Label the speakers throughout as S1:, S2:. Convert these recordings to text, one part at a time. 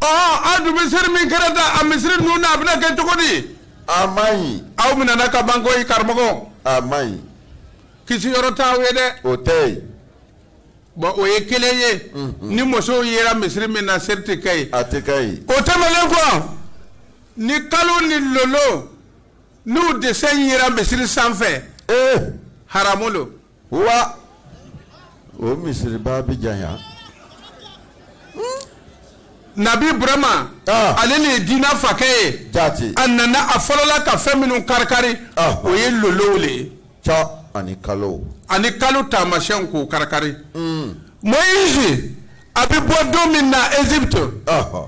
S1: aw dun misiri min kɛra da a misiri ninnu na a bɛna kɛ cogo di a man ɲi aw minɛna ka ban koyi karamɔgɔ a man ɲi kisi yɔrɔ t'aw ye dɛ o tɛ yen bɔn o ye kelen ye ni musow yera misiri min na seri tɛ kɛ yen a tɛ kɛ yen o tɛmɛnen kɔ ni kalo ni lolo n'u dessin yera misiri sanfɛ ee haramu lo wa o misiriba bɛ janya nabi birahima ah. ale le ye diinɛ fakɛ ye jati a nana a fɔlɔla ka fɛn minnu karikari ah. o ye lolow le ja ani kalo ani kalo taamasiyɛnw k'o karikari mm. moyizi a bɛ bɔ don min na égypte ah.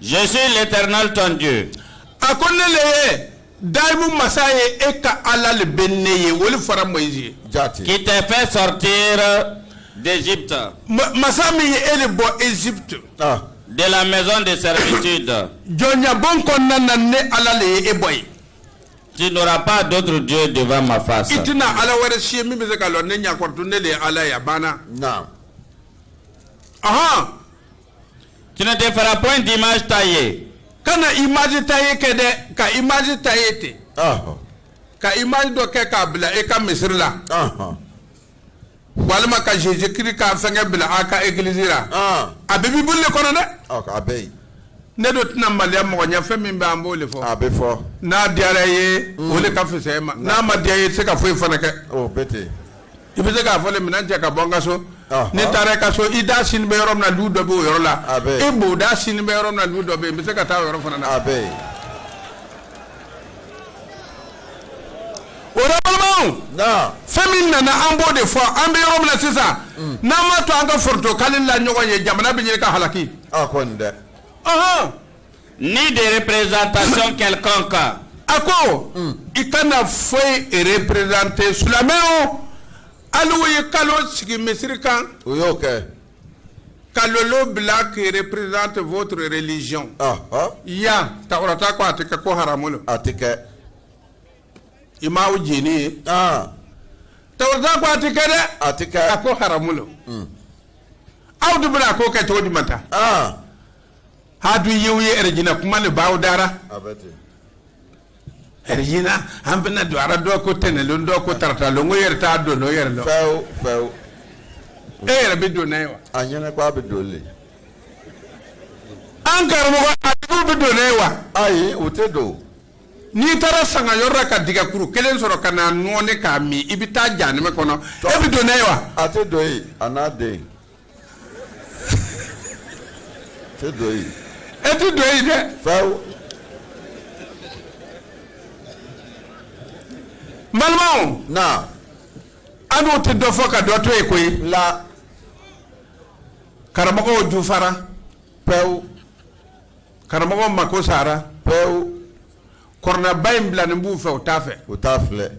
S1: Je suis l'éternel ton Dieu. A ko ne le ye daimu masa ye e ka Ala le bɛ ne ye o le fɔra Moyizi ye. Jati. Qui t'a fait sortir d'Égypte. Ma- Masa min ye e le bɔ Égypte. Ah. De la maison de servitude. Jɔnyabon kɔnɔna na ne Ala le ye e bɔ yen. Tu n'auras pas d'autre Dieu devant ma face. I tɛna Ala wɛrɛ si ye min bɛ se ka lɔ ne ɲakɔrɔtɔ ne le ye Ala ye a banna. Naam. Ahan. Tu ne te feras point d'image taillée. Kana image taillée kɛ dɛ, ka image taillée ten. Ɔhɔ. Ka image dɔ kɛ k'a bila e ka misiri la. Ɔhɔ. Walima ka Jésus Christ ka fɛngɛ bila a ka église la. Ɔn. A bɛ Bible le kɔnɔ dɛ. Ɔ a bɛ yen. Ne do tɛna maloya mɔgɔ ɲɛ fɛn min bɛ an b'o le fɔ. A bɛ fɔ. N'a diyara i ye, o le ka fisa e ma. N'a ma diya i ye, i tɛ se ka foyi fana kɛ. O bɛ ten. I bɛ se k'a fɔ minɛn cɛ ka bɔ an ka so n'i taara i ka so i da sini bɛ yɔrɔ min na du dɔ bɛ o yɔrɔ la e bonda sini bɛ yɔrɔ na du dɔ bɛ yen bɛ se ka taa yɔrɔ fana na a bɛ yen fɛn min nana an b'o de fɔ an bɛ yɔrɔ min na sisan mm. n'an ma to an ka forotoka la ɲɔgɔn ye jamana bɛ ɲini ka halaki dɛ ni de représentation quelconque a ko i kana foyi représenter silamɛw hali u ye kalo sigi misiri kan o y'o kɛ ka lolo bila qui représente votre religion yan tawurata ko a tɛ kɛ ko haramu don a tɛ kɛ image nin tawurata ko a tɛ kɛ dɛ a tɛ kɛ a ko haramu lo aw dun bɛna a ko kɛ cogo di maintenant hadu yewu ye erejina kuma le b'aw da ra erejina an bɛna don a ra dɔ ko tɛnɛn lon dɔ ko tarata lon o yɛrɛ t'a dɔn n'o yɛrɛ lɔn fewu fewu e yɛrɛ bɛ don n'a ye wa a ɲɛna ko a bɛ don le an karamɔgɔ a tigiw bɛ don n'a ye wa ayi u tɛ don n'i taara sanga yɔrɔ la ka dɛgɛkuru kelen sɔrɔ ka n'a nɔɔni k'a min i bɛ taa janɛmɛ kɔnɔ e bɛ don n'a ye wa a tɛ don yen a n'a den ti do yen. e ti do yen dɛ. fɛw. n balimaw. na. an n'u tɛ dɔ fɔ ka dɔ to yen koyi. la. karamɔgɔw jufara. pewu. karamɔgɔw mako sara. pewu. kɔrɔnaba in bilalen b'u fɛ u t'a fɛ. u t'a filɛ.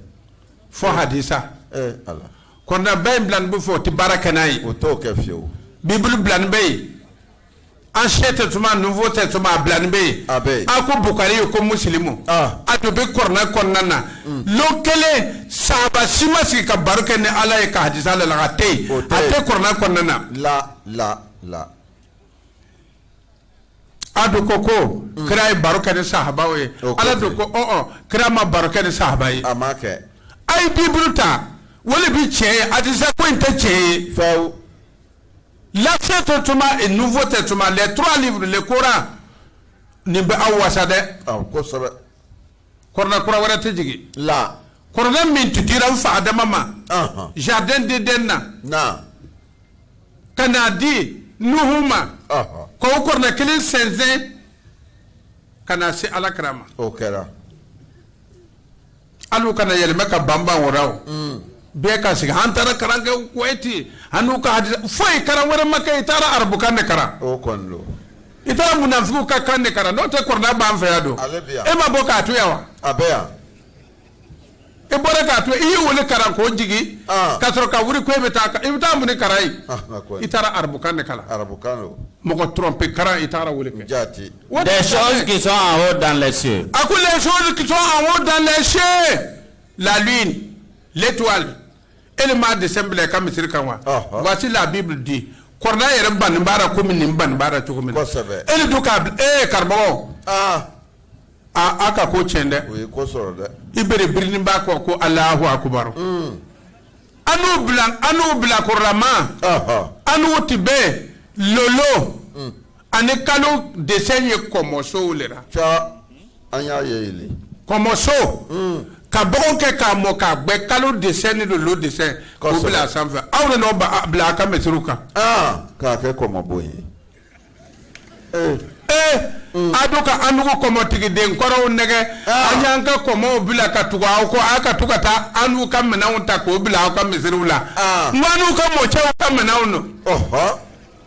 S1: fɔ hadisa. ee ala. Kɔrɔnaba in bilalen bɛ fɔ o tɛ baara kɛ n'a ye o t'o kɛ fiyewu biburu bilalen bɛ yen ancien testament nouveau testament a bilalen bɛ yen a bɛ a ko bokari yo ko musolimu a dɔ bɛ kɔrɔna kɔnɔna na don kelen sahaba si ma sigi ka baro kɛ ni ala ye ka hadisa la a tɛ a tɛ kɔrɔna kɔnɔna na a dɔn ko ko kira ye baro kɛ ni sahaba ye ala dɔn ko kira ma baro kɛ ni sahaba ye a ye biburu ta o le bɛ cɛ ye a tɛsa ko in tɛ cɛ ye fɛ l'ancien testament nouveau testament les trois livres le coran nin bɛ aw wasa dɛ kosɛbɛ kɔrɔna kura wɛrɛ tɛ jigin la kɔrɔna min tun dira n fa adama ma jardin d'eden na ka n'a di nuhu ma ka o kɔrɔna kelen sɛnsɛn ka na se ala kira ma o kɛra hali u kana yɛlɛma ka banban wɛrɛ o mm. bɛɛ ka sigi an taara kalan kɛ kuwaiti an n'u ka hadisa foyi kalan wɛrɛ ma kɛ i taara arabukan de kalan o kɔni don i taara munafigiw ka kan de kalan n'o tɛ kɔrɔna b'an fɛ yan don e ma bɔ k'a to yan wa a bɛ yan i bɔra k'a to i y'o le karan k'o jigin ah. ka sɔrɔ ka wuli ko e bɛ taa i bɛ taa mun le karan yen ah, i taara arabukan de kalan arabukan don mɔgɔ trompe karan i taara o le kɛ jaati des choses qui sont en haut dans les cieux a ko les choses qui sont en haut dans les cieux la lune l'étoile e le m'a desɛn bila i ka misiri kan wa ah, voici la bible dit kɔrɔna yɛrɛ banni b'a la komi nin banni b'a la cogo min na kosɛbɛ e ni du k'a bila ee karamɔgɔ aaa a ka ko cɛn dɛ o ye ko sɔrɔ dɛ i bɛrɛ birinin b'a kɔ ko alahu akubaru an n'u bila an n'u bila kɔrɔlama Ɔhɔ. an n'u tun bɛ lolo ani kalo desɛn ye kɔmɔsow le la ca an y'a ye yele kɔmɔso ka bɔgɔ kɛ k'a mɔ k'a gbɛ kalo desɛn ni lolo desɛn k'o Kosɛbɛ. bila a sanfɛ aw de n'o ba- a bila a ka misiriw kan aa k'a kɛ kɔmɔbon ye a do ka anugu kɔmɔtigiden kɔrɔw nɛgɛn ah. an y'an ka kɔmɔw bila ka tugu aw kɔ aw ka to ka taa an'u ka minɛnw ta k'o bila aw ka misiriw la ah. n an'u ka mɔcɛw ka minɛnw don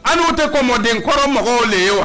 S1: an'u tɛ kɔmɔden kɔrɔ mɔgɔw le ye wa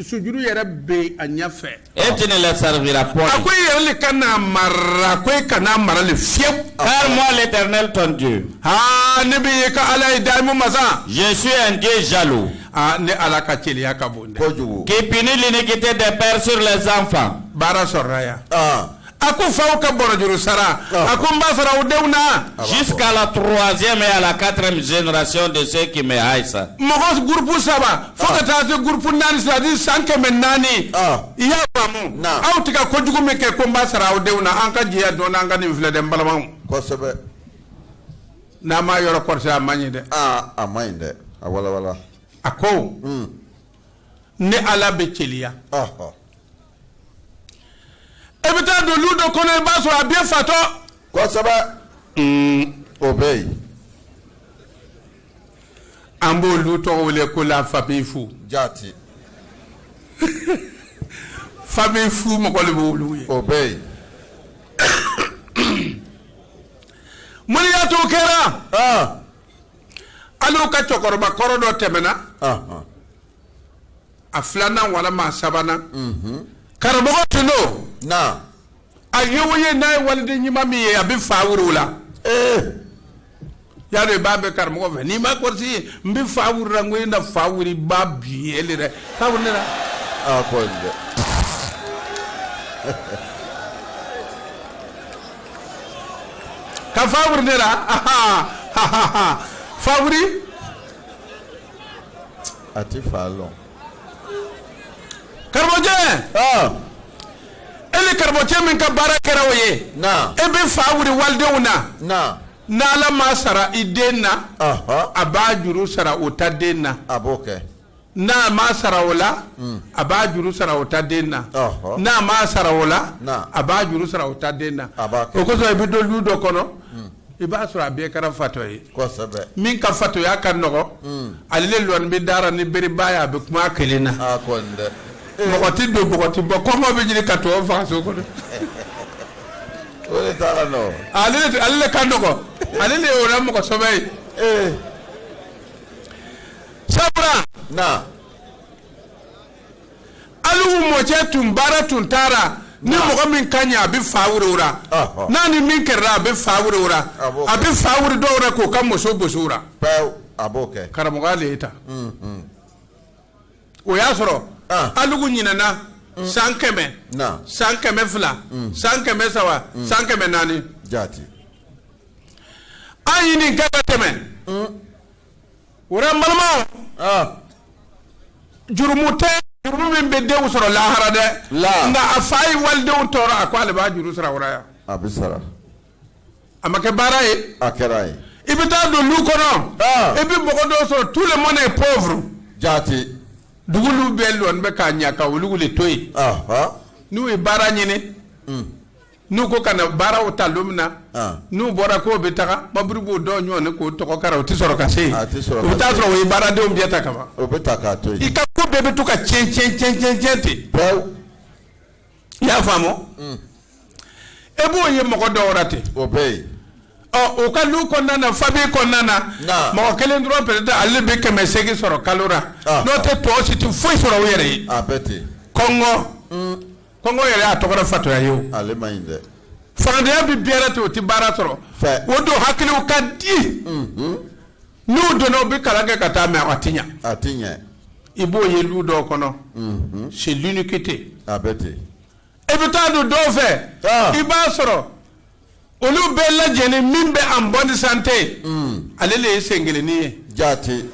S1: sujuru yɛrɛ bɛ a ɲɛfɛ et tu ne les serviras point a ko e yɛrɛ le kan'a mara ko e kan'a mara le fiyewu car moi l'éternel ton Dieu aa ne bɛ e ka ala ye daimu masa je suis un Dieu jaloux aa ne ala ka celiya ka bon dɛ kojugu qui punit l'iniquité des pères sur les enfants baara sɔrɔla yan aa a ko faw ka boro juru sara a ko n b'a sara o denw na jusqu'à la troisième et à la quatrième génération de ceux qui me haïssent mɔgɔ gurupu saba fo ka taa se gurupu naani c'est-à-dire san kɛmɛ naani i y'a faamu aw tun ka kojugu min kɛ ko n b'a sara aw denw na an ka jɛya dɔɔni an ka nin filɛ dɛ n balimaw kosɛbɛ n'a m'a yɔrɔ kɔrɔsi a man ɲi dɛ a man ɲi dɛ a walawala a ko ne ala bɛ celiya e bɛ taa don lu dɔ kɔnɔ i b'a sɔrɔ a bɛɛ fatɔ kosɛbɛ o bɛ yen an b'olu tɔgɔ wele ko la famille fou jati famille fou mɔgɔ de b'olu ye o bɛ yen mun le y'a to o kɛra ale ka cɛkɔrɔba kɔrɔ dɔ tɛmɛna a filanan walima a sabanan karamɔgɔ tun don a ye o ye n'a ye waliden ɲuman min ye a bɛ fa wuri o la y'a dɔn i b'a bɛ karamɔgɔ fɛ n'i ma kɔrɔsi ye n bɛ fa wuri i la n ko e na fa wuri ba bi ye dɛ k'a wuli ne la. Ah, ka fa wuri ne la fa wuri. a ti fa lɔn. karamɔgɔcɛ ɔn e le karamɔgɔcɛ min ka baara kɛra o ye na e bɛ fa wuli walidenw na na n'ala m'a sara i den na ɔhɔn a b'a juru sara o ta den na a b'o kɛ. n'a m'a sara o la a b'a juru sara o ta den na Ɔhɔ. n'a m'a sara o la Na. a b'a juru sara o ta den na A b'a kɛ. o kosɔn i bɛ don lu dɔ kɔnɔ i b'a sɔrɔ a bɛɛ kɛra fatɔ ye min ka fatɔya ka nɔgɔ hmm. ale lɔnin bɛ da ra ni bereba ye a bɛ kuma kelen na ah, mɔgɔ tɛ don mɔgɔ tɛ bɔ kɔngɔ bɛ ɲini ka tɔw faga so kɔnɔ ale ka nɔgɔ ale de ye o la mɔgɔ sɛbɛ ye eh. sabula alugu mɔcɛ tun baara tun taara ni mɔgɔ min ka ɲɛ a bɛ fa wuri o ra n'a ni min kɛrɛra a bɛ fa wuri o ra a bɛ fa wuri dɔw la k'o ka muso bɔsi o ra karamɔgɔ de ye ta o y'a sɔrɔ alugu ɲinɛna san kɛmɛ san kɛmɛ fila san kɛmɛ saba san kɛmɛ naani an ɲini kɛmɛ tɛmɛ O la n balimaw jurumu tɛ jurumu min bɛ denw sɔrɔ lahara dɛ nka a fa ye walidenw tɔɔrɔ a ko ale b'a juru sara yan a bɛ sara a ma kɛ baara ye a kɛra ye i bɛ taa don lu kɔnɔ i bɛ mɔgɔ dɔw sɔrɔ tout le monde est pauvre jate dugu bɛɛ bɛ ka ɲɛ ka olu de to yen n'u ye baara ɲini n'u ko ka na baaraw ta don min na n'u bɔra k'o bɛ taga baburu b'o dɔn ɲɔgɔn k'o togo kari o tɛ sɔrɔ ka se u bɛ taa sɔrɔ o ye baaradenw bɛɛ ta kaban o bɛ ta k'a to i ka ko bɛɛ bɛ to ka cɛn cɛn cɛn cɛn cɛn ten i y'a faamu mm. e b'o ye mɔgɔ dɔw wɛrɛ ten o bɛ yen ɔ o ka lu kɔnɔna na famille kɔnɔna na mɔgɔ kelen dɔrɔn peut-être ale bɛ kɛmɛ seegin sɔrɔ kalo la n'o tɛ tɔ si tɛ foyi sɔrɔ u yɛrɛ ye kɔngɔ mm. Kɔngɔ yɛrɛ y'a tɔgɔ fatɔya ye faantanya bɛ bɛɛ la ten o tɛ baara sɔrɔ o dun hakiliw ka di n'u donna u bɛ kalan kɛ ka taa mais a tɛ a ɲɛ i b'o ye lu dɔ kɔnɔ c'est l'iniquité a bɛ ten e bɛ taa don dɔw fɛ i b'a sɔrɔ olu bɛɛ lajɛlen min bɛ en bonne santé ale de ye sen kelenni ye jaati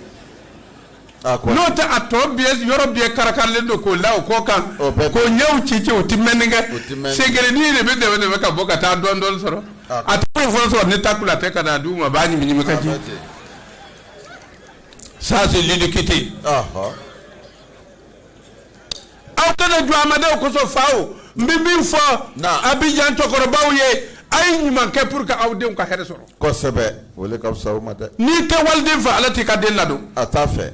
S1: a ko n'o tɛ a tɔ bɛɛ yɔrɔ bɛɛ karakarilen don k'o la o kɔ kan O bɛɛ- k'o ɲɛw ci ci o ti mɛnni O ti kɛ mɛnni. sen kelenni de bɛ dɛmɛ dɛmɛ ka bɔ ka taa dɔɔni dɔɔni sɔrɔ A ko- a tɛ foyi foyi sɔrɔ ni takula tɛ ka na d'u ma a b'a ɲimi ɲimi ka ji ça c'est l'iniquité ɔhɔ aw kana jɔ amadenw kosɔn fa o n bɛ min fɔ abijan cɛkɔrɔbaw ye a ye ɲuman kɛ pour que aw denw ka hɛrɛ sɔrɔ. kosɛbɛ o le ka fisa o ma dɛ. n'i tɛ waliden fɛ ala t'i ka den ladon. a t'a fɛ.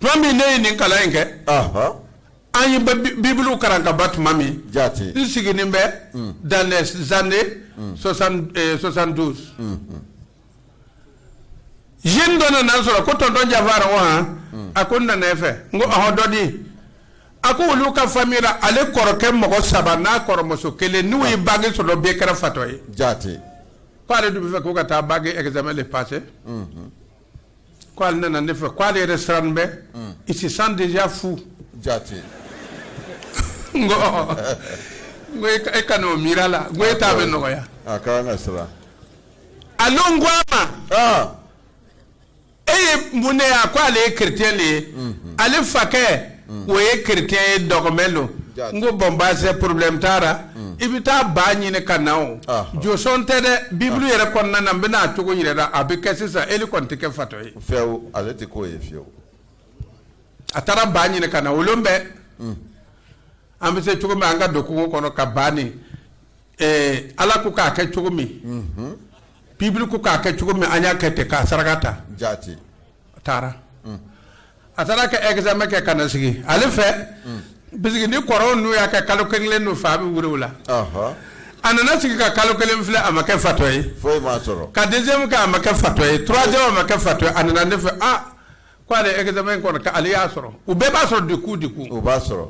S1: tuma min ne ye nin kalan in kɛ. an ye bibulu kalan ka ban tuma min. jaati n sigilen bɛ. dans les années soixante douze. jeune dɔ nana n sɔrɔ ko tonton jafar ko han hmm. a ko n nana e fɛ n ko ɔhɔ dɔ di a ko olu ka famille la ale kɔrɔkɛ mɔgɔ saba n'a kɔrɔmuso kelen n'u ye bac sɔrɔ bɛɛ kɛra fatɔ ye jaate ko ale dun b'a fɛ ko ka taa bac examen de passer hmm, hmm. ko ale nana ne fɛ ko ale yɛrɛ siranen bɛ il se sent déjà fou jaate n ko ɔhɔ n ko e kan'o miiri a la n ko e ta bɛ nɔgɔya a ka kan ka siran alors n ko a ma ah. e ye mun de a ko ale ye chrétien de ye mhm. ale fakɛ mhm. o ye chrétien ye dɔgɔmɛ lo n ko bon baasi problème t'a la mhm. i bɛ taa baa ɲini ka na o ah, ah. josɔn tɛ dɛ bibulu yɛrɛ kɔnɔna na n bɛna a cogo yira i la a bɛ kɛ sisan ele kɔni tɛ kɛ fatɔ ye. fewu ale tɛ k'o ye fewu. a taara baa ɲini ka na o lon bɛɛ an bɛ se cogo min an ka don kungo kɔnɔ ka baa ni. ɛɛ Ala ko k'a kɛ cogo min. Unhun. Bible ko k'a kɛ cogo min an y'a kɛ ten k'a saraka ta. Jaati. A taara. Un. A taara ka examen kɛ ka na sigi ale fɛ. Un. Puisque ni kɔrɔw n'u y'a kɛ kalo kelen kelen n'u fa bɛ wuli o la. Ɔhɔ. A nana sigi ka kalo kelen filɛ a ma kɛ fatɔ ye. Foyi m'a sɔrɔ. Ka deuxième kɛ a ma kɛ fatɔ ye troisième a ma kɛ fatɔ ye a nana ne fɛ ah ko ale examen kɔni k'ale y'a sɔrɔ u bɛɛ b'a sɔrɔ du coup du coup. U b'a sɔrɔ.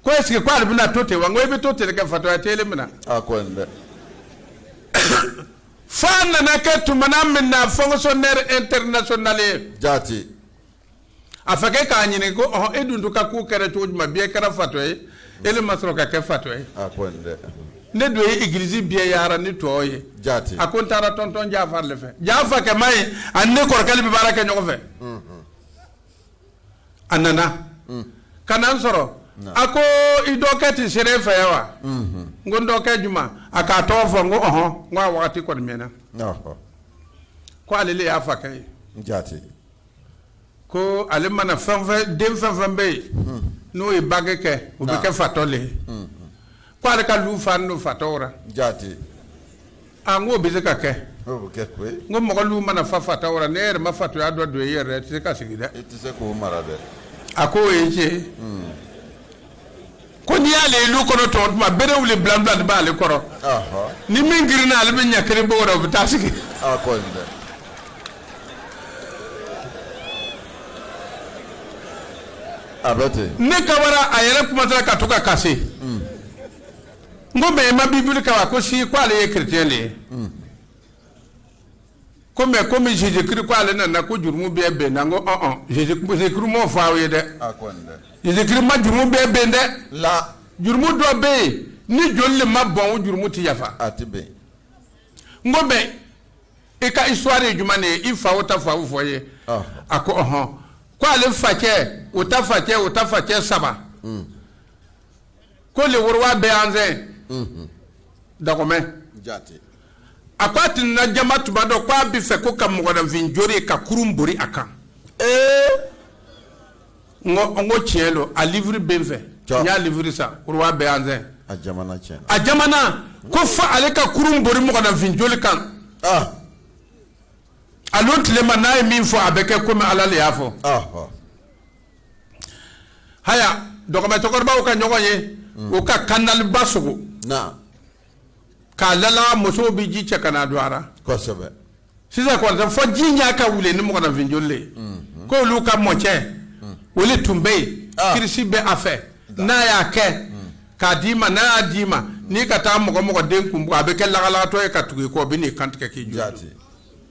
S1: ko est ce que ko ale bɛna to ten wa n ko i bɛ to ten kɛ fatɔya tɛ ele minɛ a ko nin dɛ fo a nana kɛ tumana min na fonctionnaire international ye jaati a fakɛ k'a ɲininka ko ɔhɔn e dun to ka ko kɛra cogo jumɛn bɛɛ kɛra fatɔ ye ele ma sɔrɔ ka kɛ fatɔ ye a ko nin dɛ ne dun ye igilizi bɛɛ yaara n'i tɔgɔ ye jaati a ko n taara tonton jafari le fɛ jaa fakɛ ma ye ani ne kɔrɔkɛ le bɛ baara kɛ ɲɔgɔn fɛ a nana mm. ka na n sɔrɔ a ko i dɔkɛ tɛ sera e fɛ yan wa mm-hmm. n ko n dɔkɛ juma a k'a tɔgɔ fɔ n ko ɔhɔn n ko a wagati kɔni mɛnna ko ale le y'a fakɛ ye jaati ko ale mana fɛn fɛn den fɛn fɛn bɛ yen mm. n'o ye bange kɛ o bɛ kɛ fatɔ le ye mm-hmm. ko ale ka lu fanen don fatɔw ra jaati A n ko o bɛ se ka kɛ n ko mɔgɔ lu mana fa fatɔw ra n'e yɛrɛ ma fatɔya dɔ don e yɛrɛ rɔ i tɛ se ka sigi dɛ a ko o ye tiɲɛ ko n'i y'ale lu kɔnɔ tɔgɔ tuma bere wili bila bila de b'ale kɔrɔ ni min girinna ale bɛ ɲɛ kelen bɔ o bɛ taa sigi ne ka a yɛrɛ kuma ka to ka kasi n ko mais i ma bibili kalan wa ko si ko ale ye chrétien de ye ko mais komi jésus christ ko ale nana ko jurumu bɛɛ benna n ko ɔn ɔn jésus christ m'o fɔ aw ye dɛ a ko nin dɛ jésus christ ma jurumu bɛɛ ben dɛ la jurumu dɔ bɛ yen ni joli le ma bɔn o jurumu tɛ yafa a tɛ ben n ko mais i ka histoire ye jumɛn de ye i fa o ta fa o fɔ n ye Ɔhɔ. a ko ɔhɔn ko ale facɛ o ta facɛ o ta facɛ saba ko le roi béhanzin dahomey a ko a tɛ na jama tuma dɔ k'a b'a fɛ ko ka mɔgɔninfin jori ka kurun bori a kan n n ko tiɲɛ don a livre bɛ n fɛ n y'a livre san roi béhanzin a ko fo ale ka kurun bori mɔgɔninfin joli kan a tilema n'a ye min fɔ a bɛ kɛ kɔmi ala de y'a fɔ haya dɔgɔba cɛkɔrɔbaw ka ɲɔgɔn ye mm. u ka kandaliba sogo k'a lala musow bɛ ji cɛ ka na don a ra kosɛbɛ sisan kɔrɔtɛ fɔ ji ɲa ka wulen ni mɔgɔnafin joli le mm-hmm. k'olu ka mɔcɛ mm. olu tun bɛ yen ah. kirisi bɛ a fɛ n'a y'a kɛ mm. k'a d'i ma n'a y'a d'i ma n'i ka taa mɔgɔ mɔgɔ den kun bugɔ a bɛ kɛ lagalagatɔ ye ka tugu i kɔ o bɛ n'i kantigɛ k'i jɔ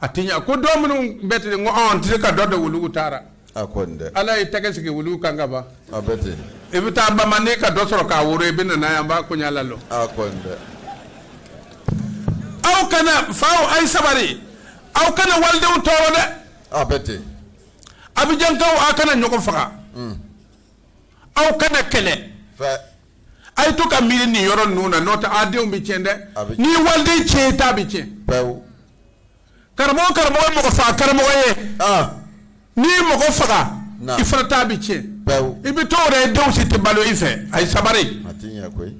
S1: a tɛ ɲɛ ko dɔw minnu bɛ ten n ko ɔn n tɛ se ka dɔ de wolonugu taara a ko nin dɛ ala ye tɛgɛ sigi wolonugu kan ka ban a bɛ ten i bɛ taa bamannen ka dɔ sɔrɔ k'a woro i bɛ na n'a ye an b'a koɲa lalɔ a ko nin dɛ aw kana faw a ye sabari aw kana walidenw tɔɔrɔ dɛ a bɛ ten abijankaw aw kana ɲɔgɔn faga aw kana kɛlɛ fɛ a ye to ka miiri nin yɔrɔ ninnu na n'o tɛ a denw bɛ tiɲɛ dɛ A bɛ tiɲɛ. n'i ye waliden tiɲɛ i ta bɛ tiɲɛ pewu karamɔgɔ karamɔgɔ ye mɔgɔ faga karamɔgɔ ye ah n'i ye mɔgɔ faga Na. i fana ta bɛ tiɲɛ pewu i bɛ to o ra i denw si tɛ balo i fɛ a ye sabari a ti ɲɛ koyi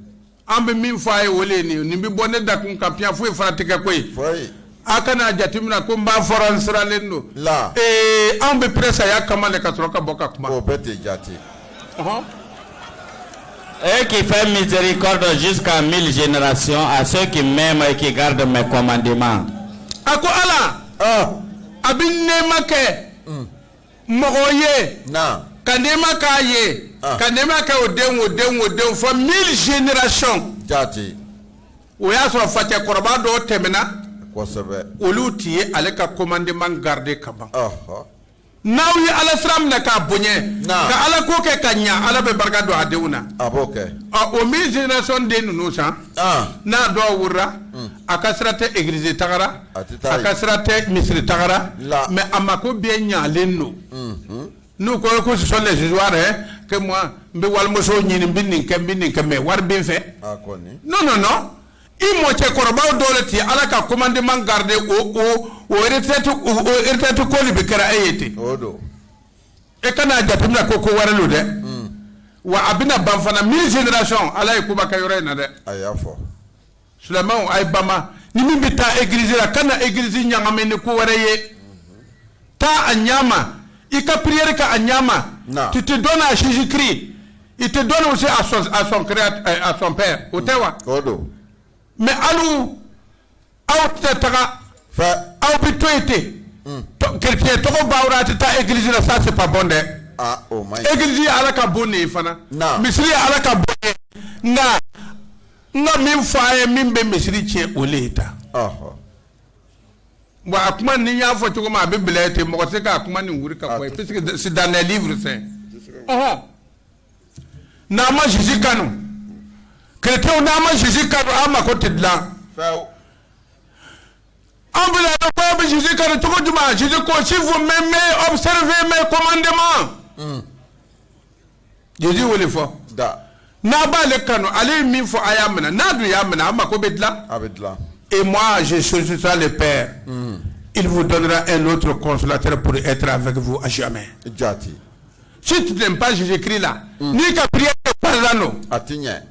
S1: an bɛ min fɔ a ye o de ye nin ye nin bɛ bɔ ne dakun kan piyan foyi fana tɛ kɛ koyi foyi aw kana jateminɛ ko n b'a fɔra n siralen don la ee anw bɛ prêt saya kama de ka sɔrɔ ka bɔ ka kuma o bɛɛ tɛ jate Et qui fait miséricorde jusqu'à mille générations à ceux qui m'aiment et qui gardent mes commandements. a ko ala ɔ a bɛ nɛɛma kɛ mɔgɔ ye na ka nɛɛma k'a ye Ah. ka nɛɛma kɛ o den o den o den fɔ mille génération jate o y'a sɔrɔ facɛ kɔrɔba dɔw tɛmɛna olu tun ye ala ka commandement garder ka ban n'aw ye ala sira minɛ k'a bonya ka ala ko kɛ ka ɲɛ ala bɛ barika don a denw na o mille génération den ninnu san n'a dɔw worola hmm. a ka sira tɛ egilizi taga ra a ka sira tɛ misiri taga ra mais a mako bɛɛ ɲalen don hmm, hmm. n'u ko ko ce sont les histoires hein, que moi n bɛ walimuso ɲini n bɛ nin kɛ n bɛ nin kɛ mais wari bɛ n fɛ a kɔni non non non i mɔcɛkɔrɔbaw dɔw le tun ye ala ka commandement garder o o o retraite o o retraite ko de bɛ kɛra e ye ten o don e kana a jateminɛ ko ko wɛrɛ lo dɛ wa a bɛna ban fana mille génération ala ye koba kɛ yɔrɔ in na dɛ a y'a fɔ seulement a ye bama ni min bɛ taa egilizi la kana egilizi ɲagami ni ko wɛrɛ ye taa a ɲa ma i ka prière kɛ a ɲa ma tu te donnes à Jésus Christ il te donne aussi à son, à son, créat, euh, à son père o tɛ wa mais alu aw tɛ taga aw bɛ to yen ten chrétien tɔgɔ b'aw la a tɛ taa egilizi la ça c'est pas bon dɛ egilizi ye ala ka bon de ye fana misiri ye ala ka bon ye nka N ka min fɔ a ye min bɛ misiri tiɲɛ o de ye tan. Bon a kuma ni n y'a fɔ cogo min a bɛ bila ten mɔgɔ tɛ k'a kuma nin wuri ka bɔ yen puisque c'est dans les livres saints ɔhɔn n'an ma Jésus kanu chrétiens n'an ma Jésus kanu an mako tɛ dilan an bɛ na ko an bɛ Jésus kanu cogo jumɛn Jésus ko si vous m'aimez observez mes commandements. Jésus y'o le fɔ n'a b'ale kanu ale ye min fɔ a y'a minɛ n'a dun y'a minɛ a mako bɛ dilan a bɛ dilan et moi je solliciterai le père mm. il vous donnera un autre consolateur pour être avec vous à jamais jati si tu n'aimes pas Jésus-Christ là mm. n'i ka prière ye parano a t'i ɲɛ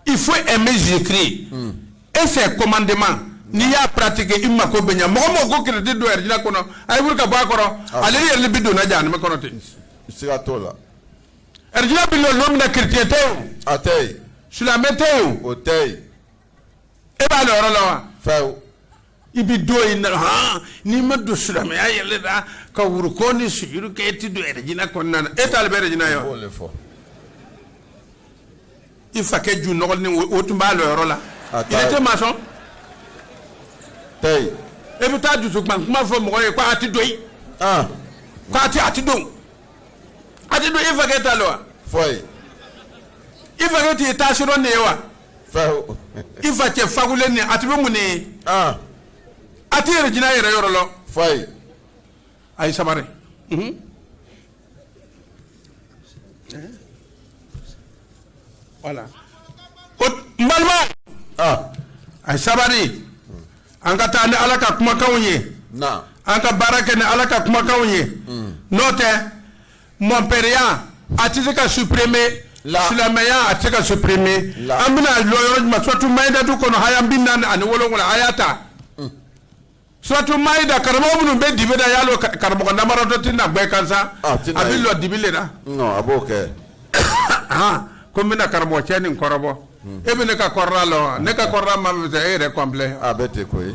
S1: i fo ɛ bɛ zikiri e fɛ komanden ma n'i y'a ptigi i ma ko bɛ ɲɛ mɔgɔ mɔgɔ ko kidi don yɛrɛ kɔnɔ a bɛ ka bɔ a kɔrɔ ah. ale yɛrɛ bɛ donna jan kɔnɔ ten siga t'o la ɛd bɛ don min na kite tɛ a tɛ silamɛmɛ tɛ o tɛ e b'a yɔrɔ la wa i bɛ don yen na hɔn n'i ma don silamɛya yɛlɛ la ka ruku ni sujuru kɛ e tɛ don ɛrɛjina kɔnɔna na e ta le bɛ ɛrɛjina ye wa i fakɛ ju nɔgɔlen o tun b'a lɔ yɔrɔ la i tɛ maa sɔn e bɛ taa dusu kuma kuma fɔ mɔgɔ ye ko a tɛ don yen ah. ko a tɛ a tɛ don a tɛ don e fakɛ ta lo wa i fakɛ t'i taa sɔrɔ nin ye wa i facɛ fakulen ni a ti bɛ mun ne ye ah. a ti ɛrɛjina yɛrɛ yɔrɔ lɔ fayi a ye sabari mhm. voilà ko n balima ah. a ye sabari an ka taa ni ala ka kumakanw ye an ka baara kɛ ni ala ka kumakanw ye hmm. n'o tɛ mɔnpɛriya a tɛ se ka supprime silamɛya a tɛ se ka supprime an bɛna lɔ yɔrɔ jumɛn suratu mayidatu kɔnɔ haya bi naani ani wolonwula a y'a ta mm. suratu mayida karamɔgɔ minnu bɛ dibi la a y'a lɔ karamɔgɔ namaratɔ tɛ na gbɛ kan sa a bɛ lɔ dibi le la a b'o kɛ ko n bɛna karamɔgɔ cɛ nin kɔrɔbɔ mm. e bɛ ne ka kɔrɔla lɔ ne ka kɔrɔla ma bɛ e yɛrɛ kɔnpilɛ a bɛ ten koyi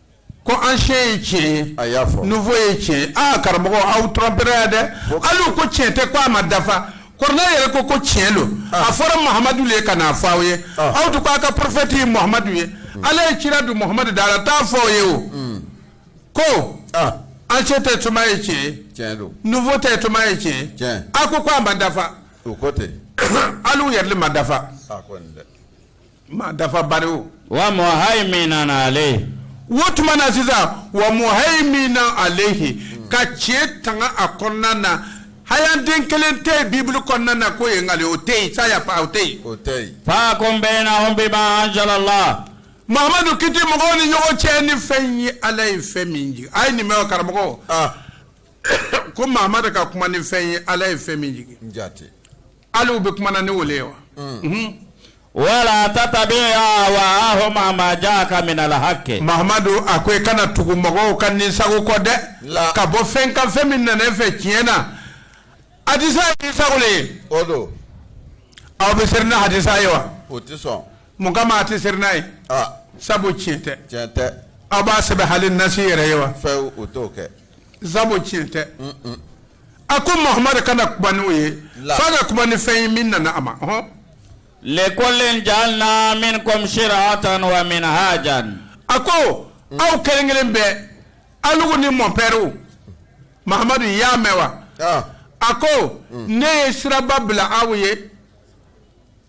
S1: ko ancien ye tiɲɛ ye a y'a fɔ nouveau ye tiɲɛ ye aa karamɔgɔ aw trɔmpera yan dɛ alu ko tiɲɛ tɛ ko a ma dafa kuranɛ yɛrɛ ko ko tiɲɛ don ah. a fɔra mahamadu le ye ka n'a fɔ aw ye ah. aw tun ko aw ka prophète ye mahamadu ye hmm. ala ye cira don mahamadu da la t'a fɔ aw ye o hmm. ko ah. ancien testament ye tiɲɛ ye nouveau testament ye tiɲɛ a ko ko a ma dafa alu yɛrɛ ma dafa maa dafa bari o wa muhayminan alayhi o tuma na sisan wa muhayminan alayhi ka tiɲɛ tanga a kɔnɔna na hayanden kelen tɛ yen bibulu kɔnɔna na k'o ye nkalon o tɛ yen ça y a pas o tɛ yen o tɛ yen fahkum baynahum bima anzala Allah mahamadu kiti mɔgɔw ni ɲɔgɔn cɛ ni fɛn ye ala ye fɛn min jigin a ye nin mɛn o karamɔgɔ ah ko mahamadu ka kuma ni fɛn ye ala ye fɛn min jigin n jate Alu bɛ kuma na ni o ye wa wa la tattabi' ahwa'ahum amma ja'aka minal haqqi mahamadu a ko i kana tugu mɔgɔw ka nin sago kɔ dɛ ka bɔ fɛn kan fɛn min nana i fɛ tiɲɛ na hadisa ye nin sago le ye aw bɛ seli ni hadisa ye wa mun kama a tɛ seli n'a ye sabu tiɲɛ tɛ tiɲɛ tɛ aw b'a sɛbɛn hali nasi yɛrɛ ye wa sabu tiɲɛ tɛ a ko mahamadu kana kuma n'o ye fo ka kuma ni fɛn ye min nana a ma likullin ja'alna minkum shir'atan wa minhajan a ko aw kelen kelen bɛɛ alugu ni mɔnpɛriw mahamadu y'a mɛn wa ah. a ko ne ye siraba bila aw ye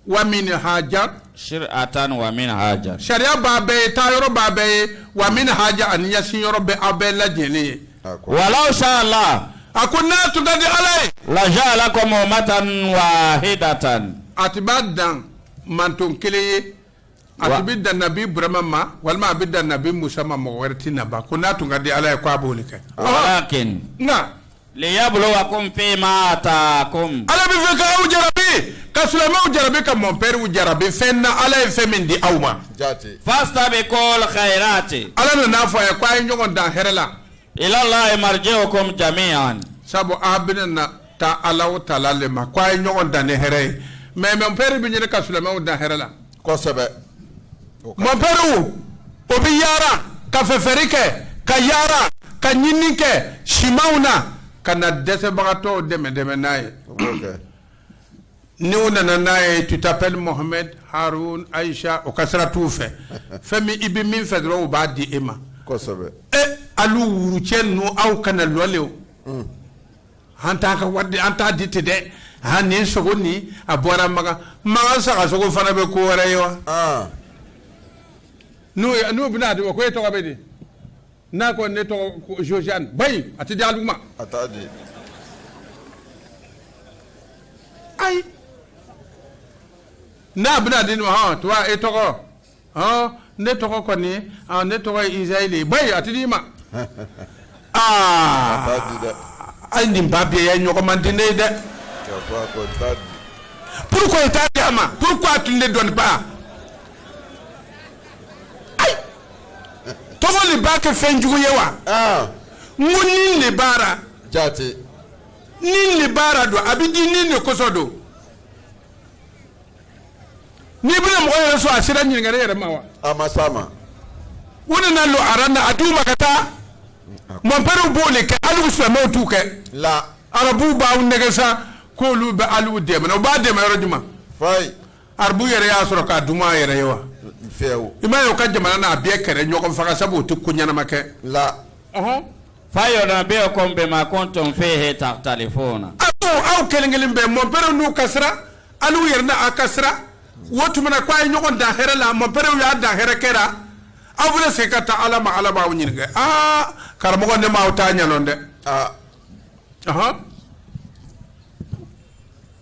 S1: wa minhajan shir'atan wa minhajan sariya b'a bɛɛ ye taa yɔrɔ b'a bɛɛ ye wa minhajan ani ɲɛsin yɔrɔ b'aw bɛɛ lajɛlen ye wa law sha'a Allah a ko n'a tun ka di ala ye laja'alakum ummatan wahidatan a tun b'a dan manton kelen ye a tun bɛ dan nabi burama ma walima a bɛ dan nabi musa ma mɔgɔ wɛrɛ tɛ na ba ko n'a tun ka di ala ye ko a b'o kɛ walakin liyabluwakum fi ma atakum ala b'a fɛ k'aw jarabi ka silamɛw jarabi ka mɔnpɛriw jarabi fɛn na ala ye fɛn min di aw ma fastabiqul khayrat ala nana n'a fɔ a ye ko a ye ɲɔgɔn dan hɛrɛ la ila Allahi marji'ukum jami'an sabu a bɛna na taa alahu ta'ala le ma ko a ye ɲɔgɔn dan ni hɛrɛ ye mɛ mɔnpɛri bɛ ɲini ka silamɛw dan hɛrɛ la kosɛbɛ mɔnpɛriw u bɛ yaara ka fɛfɛri kɛ ka yaara ka ɲinini kɛ simanw na ka na dɛsɛbagatɔw dɛmɛ dɛmɛ n'a ye o b'o kɛ Ni u nana n'a ye tu t'appelles Mohamed, Haroun, Aicha o ka sira t'u fɛ, fɛn min i bɛ min fɛ dɔrɔn u b'a di e ma, kosɛbɛ, e alu wurucɛ ninnu aw kana lɔli o, un, an t'a ka wari di an t'a di ten dɛ, aa nin sogo nin a bɔra Makan, Makan sagasogo fana bɛ ko wɛrɛ ye wa, an, n'u bɛna a di u ko e tɔgɔ bɛ di n'a ko ne tɔgɔ josiane bayi a tɛ di alu ma a t'a di ayi n'a bɛna di ne ma hɔn tuba e tɔgɔ hɔn ne tɔgɔ kɔni hɔn ne tɔgɔ ye isayili bayi a tɛ di i ma aa t'a di dɛ ayi nin ba bɛɛ ye ɲɔgɔn man di ne ye dɛ k'a fɔ a ko t'a di pourquoi i t'a di a ma pourquoi tu ne donnes pas ayi tɔgɔ de b'a kɛ fɛn jugu ye wa ah. n ko ni de baara jate ni de baara don a bɛ di ni de kosɔn don n'i bɛna mɔgɔ yɛrɛ sɔrɔ a sera ɲininkali yɛrɛ ma wa a ma s'a ma u nana lɔ aran na a d'u ma ka taa mɔnpɛriw b'o de kɛ alu silamɛw t'o kɛ la arabuw b'aw nɛgɛn sa k'olu bɛ alu dɛmɛ u b'a dɛmɛ yɔrɔ jumɛn fayi arabu yɛrɛ y'a sɔrɔ k'a dun a yɛrɛ ye wa i m'a ye o ka jamana na bɛɛ kɛrɛ ɲɔgɔn faga sabu o tɛ ko ɲɛnama kɛ la fayunabbiukum bima kuntum fihi takhtalifuna aw kelen kelen bɛɛ mɔpɛrɛw n'u ka sira alu yɛrɛ n'aw ka sira o tuma na ko a ye ɲɔgɔn dan hɛrɛ la mɔpɛrɛw y'aw dan hɛrɛ kɛ ra aw bɛ se ka taa ala ma ala b'aw ɲininka aa karamɔgɔ ne m'aw ta ɲa lɔn dɛ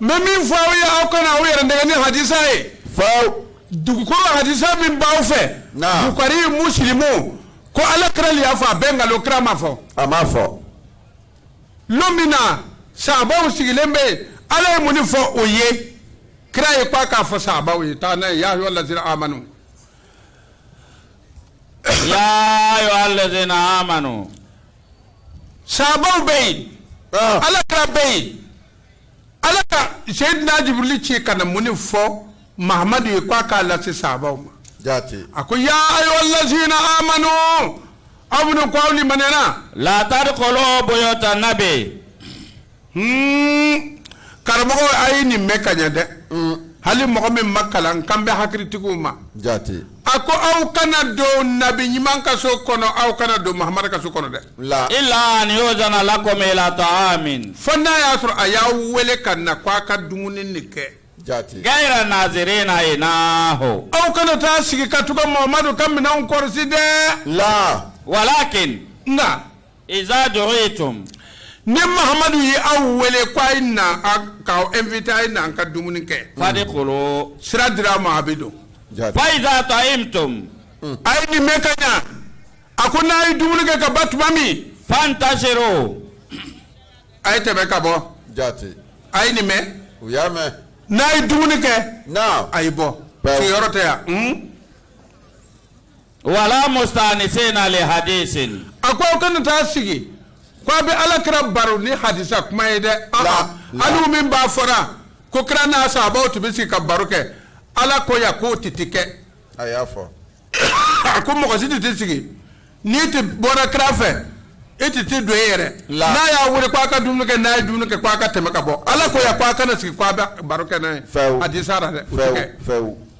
S1: n bɛ min fɔ aw ye aw kana aw yɛrɛ nɛgɛn ni hadisa ye faw dugukolo hadisa min b'aw fɛ Naam. bukari musilimu ko ala kira le y'a fɔ a bɛɛ nkalon kira m'a fɔ a m'a fɔ lon min na sahabaw sigilen bɛ yen ala ye mun de fɔ o ye kira ye k'a k'a fɔ sahabaw ye taa n'a ye ya ayyuhal ladzina amanu ya ayyuhal ladzina amanu sahabaw bɛ yen ah. ala kira bɛ yen ala ka seyidina jibirili ci ka na mun de fɔ mahamadu ye k'a k'a lase sahabaw ma a ko ya ayyuhal ladzina amanu aw minnu ko aw limaniyana. la tadkhulu buyuta nabi. karamɔgɔ a ye nin mɛn ka ɲɛ dɛ hali mɔgɔ min ma kalan kan bɛ hakilitigiw ma a ko aw kana don nabi ɲuman ka so kɔnɔ aw kana don mahamadu ka so kɔnɔ dɛ illa an yudzana lakum ila ta'amin fo n'a y'a sɔrɔ a y'aw weele ka na ko a ka dumuni de kɛ ghayra nazirina inahu aw kana taa sigi ka to ka mahamadu ka minɛn kɔlɔsi dɛ walakin nka ni mahamadu ye aw wele k' a ye aw invité a ye na ka dumuni kɛ fadkhulu sira dira a ma a bɛ don fa idza ta'imtum a ye nin mɛn ka ɲɛ a ko n'a ye dumuni kɛ ka ban tuma min fantashiru a ye tɛmɛ ka bɔ ja a ye nin mɛn u y'a mɛn n'a ye dumuni kɛ a ye bɔ sigiyɔrɔ tɛ yan Wala musta'nisina li hadisin a ko aw kana taa sigi k' a bɛ ala kira baro ni hadisa kuma ye dɛ hali min b'a fɔra ko kira n'a sahabaw tun bɛ sigi ka baro kɛ ala ko yan k'o tɛ tɛ kɛ a y'a fɔ a ko mɔgɔ si tɛ tɛ sigi n'i tɛ bɔra kira fɛ e tɛ tɛ don e yɛrɛ n'a y'a wele k' a ka dumuni kɛ n'a ye dumuni kɛ k' a ka tɛmɛ ka bɔ ala ko yan k' a kana sigi k' a bɛ baro kɛ n'a ye hadisa dɛ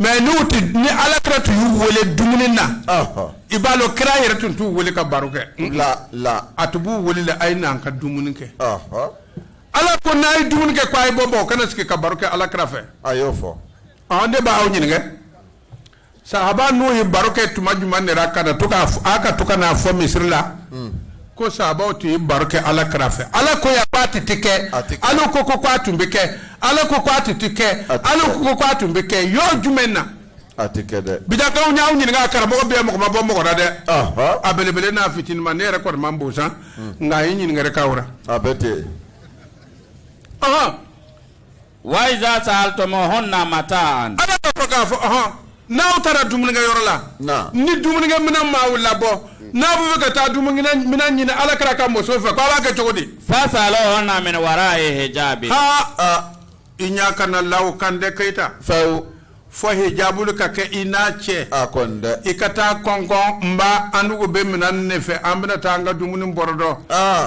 S1: mais n'o tɛ ni ala kira tun y'u wele dumuni na i b'a dɔn kira yɛrɛ tun t'u wele ka baro kɛ a tun b'u wele la a ye na an ka dumuni kɛ ala ko n'a ye dumuni kɛ ko a ye bɔ bɔ aw kana sigi ka baro kɛ ala kira fɛ a y'o fɔ ne bɛ aw ɲininka sahabanu ye baro kɛ tuma jumɛn de ka to ka to ka n'a fɔ misiri la hmm. ko sahabaw tun ye baro kɛ ala kira fɛ ala ko yan k'a tɛ tɛ kɛ A tɛ kɛ. ala ko ko k'a tun bɛ kɛ ala ko k'a tɛ tɛ kɛ A tɛ kɛ. ala ko ko k'a tun bɛ kɛ yɔrɔ jumɛn na a tɛ kɛ dɛ bidakaw n y'aw ɲininka karamɔgɔ bɛɛ mɔgɔ ma bɔ mɔgɔ la dɛ Ahan. a belebele n'a fitinima ne yɛrɛ kɔni man bon sa nka n ye ɲininkali k'aw la a bɛ ten ɔhɔn Wa iza sa'altumuhunna mata'an ala fɔ k'a fɔ hɔn n'aw taara dumunikɛ yɔrɔ la ni dumunikɛ minɛn ma labɔ n'a bɛ fɛ ka taa dumunikɛ minɛn ɲini ala kira ka muso fɛ k' aw k'a kɛ cogo di fas'aluhunna min wara'i hijabi aa i ɲa kana la a kan dɛ keyita fewu fo hijabu ka kɛ i n'a cɛ i ka taa kɔnkɔn n ba an bɛ minɛn nɔfɛ an bɛna taa an ka dumuni baro dɔn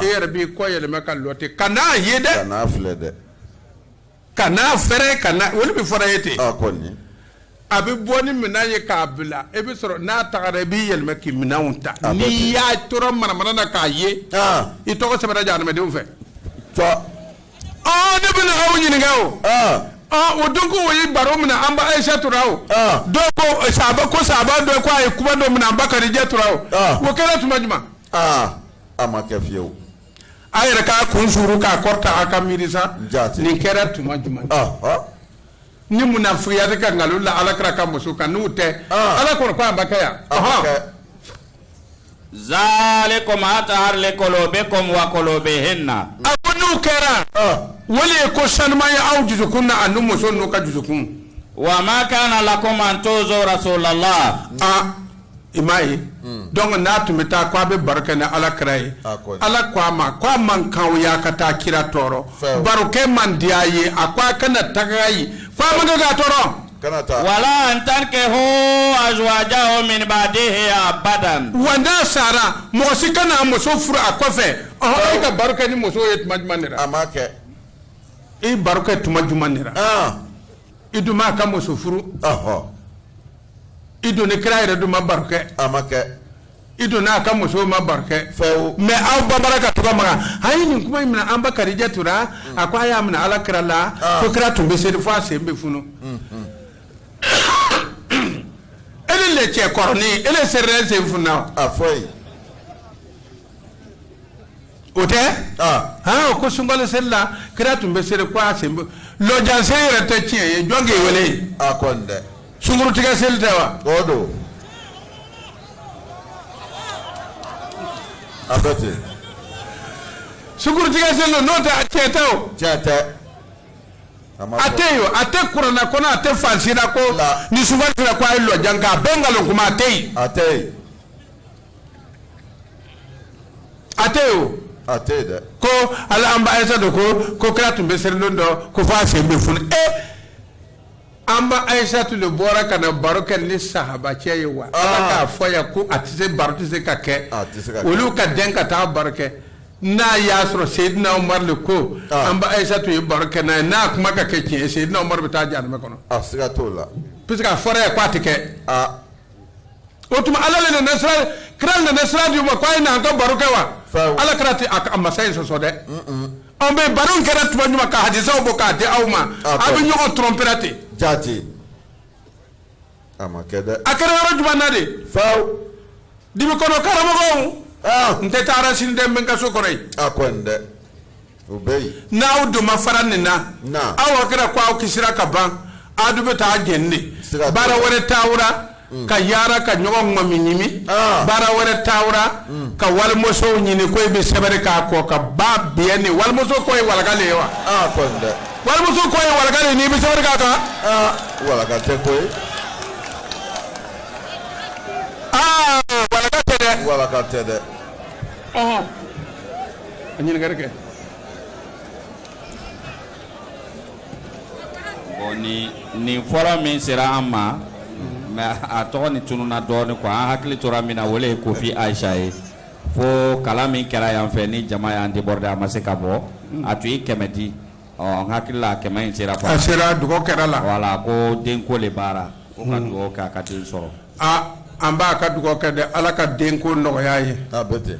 S1: e yɛrɛ b'i kɔ yɛlɛma ka lɔ ten kan'a ye dɛ kan'a fɛrɛ ka na olu bɛ fɔra ye ten a kɔni a bɛ bɔ ni minɛn ye k'a bila e bɛ sɔrɔ n'a tagara i b'i yɛlɛma k'i minɛnw ta A bɛ ten. n'i y'a tora manamana na k'a ye aa i tɔgɔ sɛbɛnna jahanamadenw fɛ tɔ ɔ ne bɛna aw ɲininka o aa ɔ o donc u ye baro minɛ an ba ayisatu ra o aa dɔw ko sahaba ko sahaba dɔ ko a ye kuma dɔ minɛ an ba kadijatu ra o Ah. o kɛra tuma jumɛn aa a ma kɛ fiyewu A yɛrɛ k'a kun suuli k'a kɔrɔta a ka miiri nin kɛra tuma jumɛn ni munafiki ka nkalon la ala kira ka muso kan n'o tɛ ala kɔrɔ ko a ba kɛ yan zalikum atharu liqulubikum wa qulubihinna a ko n'o kɛra o le ye ko sanuma ye aw dusukun na ani musonu ka dusukun wa ma kana lakum an tu'zu rasulallah i m'a ye hmm. donc n'a tun bɛ taa ko a bɛ baro kɛ ni ala kira ye ah, ala ko a ma ko a man kan o y'a ka taa kira tɔɔrɔ barokɛ man di a ye a ko a kana taga yen ko a man kan k'a tɔɔrɔ wala an tankihu azwajahu min ba'dihi abadan wa n'a sara mɔgɔ si kana a muso furu a kɔfɛ ɔhɔn e ka baro kɛ ni muso ye tuma jumɛn de la a m'a kɛ i baro kɛ tuma jumɛn de la ah. i dun m'a ka muso furu ɔhɔn i don ni kira yɛrɛ dun ma baro kɛ a ma kɛ i don n'a ka musow ma baro kɛ fɛw mɛ aw babara ka tɔgɔ maga an ye nin kuma in minɛ an ba kadijatu ra a ko a y'a minɛ ala kira la Ah. ko kira tun bɛ seri fo a sen bɛ funu ele le cɛ kɔrɔnin ele serila sen funna wa a fɔ ye o tɛ hɔn ko sunkalo seli la kira tun bɛ seli ko a sen lɔjan seli yɛrɛ tɛ tiɲɛ ye jɔn k'i wele yen a kɔni dɛ sungurutigɛ seli tɛ wa o don a bɛ ten sungurutigɛ seli don n'o tɛ a tiɲɛ tɛ o tiɲɛ tɛ a ma a bɔ. tɛ yen o a tɛ kurana kɔnɔ a tɛ fan si la ko La. ni sunkalo sera ko a ye lɔjan kɛ a bɛɛ nkalon kuma a tɛ yen a tɛ yen a tɛ yen o. a tɛ yen dɛ. ko ala an ba ayisatu ko ko kira tun bɛ seli don dɔ ko f'a sen bɛ funu e an ba ayisatu de bɔra ka na baro kɛ ni sahabacɛ ye wa. ala ah. k'a fɔ yan ko a tɛ se baro tɛ se ka kɛ. a tɛ se ka kɛ olu ka den ka taa baro kɛ. n'a y'a sɔrɔ seyidina umaru le ko ah. an ba ayisatu ye baro kɛ n'a ye n'a kuma ka kɛ tiɲɛ ye seyidina umaru bɛ taa janɛmɛ kɔnɔ. a siga t'o la. puisque a fɔra yan k'a tɛ kɛ. Ah. o tuma ala le nana sira kira nana sira di ma k'a ye na an ka baro kɛ wa ala kira tɛ a masa in sɔsɔ dɛ an bɛ baro in kɛra tuma jumɛn ka hadisaw bɔ k'a di aw ma a bɛ ɲɔgɔn tromper ra ten jaati a ma kɛ dɛ a kɛra yɔrɔ jumɛn na de f'aw dibi kɔnɔ karamɔgɔw n tɛ taa yɔrɔ si dɛ n bɛ n ka so kɔnɔ yen a kɔni dɛ n'aw dun ma fara nin na aw hakili la ko aw kisira ka ban aw dun bɛ taa j de baara wɛrɛ t'a ra ka yaara ka ɲɔgɔn mɔmi ɲimi ah. baara wɛrɛ t'a ra ka walimusow ɲini ko i bɛ sɛbɛnri k'a kɔ ka ba bi ni walimuso ko ye waka ye wa ah, walimuso ko ye waka ni bɛ sɛbɛn k'a kan ah, waka tɛ ko waka tɛ dɛ waka tɛ dɛ an bɛna dugawu kɛ Bon, ni ni fɔlɔ min sera an ma mɛ a tɔgɔnin tununna dɔɔnin quoi an hakili tora min na o le ye kofi ayisa ye fo kalan min kɛra yan fɛ ni jama y'an déborder a ma se ka bɔ a tun ye kɛmɛ di ɔ n hakili la kɛmɛ in sera a sera dugawu kɛra la wala ko denko de b'a ra o ka dugawu kɛ a ka den sɔrɔ aa an b'a ka dugawu kɛ dɛ ala ka denko nɔgɔya a ye a bɛ ten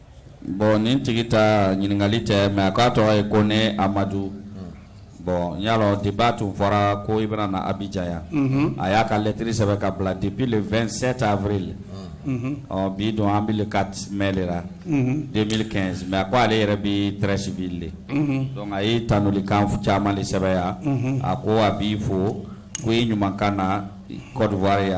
S1: Bɔn nin tigi ta ɲininkali tɛ mɛ a k'a tɔgɔ ye Kone Amadu bɔn n y'a dɔn de b'a tun fɔra ko i bɛna na Abijan yan a y'a ka lɛtiri sɛbɛn ka bila depuis le 27 avril bi don an bɛ le 4 mai de la 2015 mɛ a ko ale yɛrɛ bɛ Treichville de dɔnku a ye tanuli kan caman de sɛbɛn yan a ko a b'i fo ko i ɲuman ka na Kɔdiwari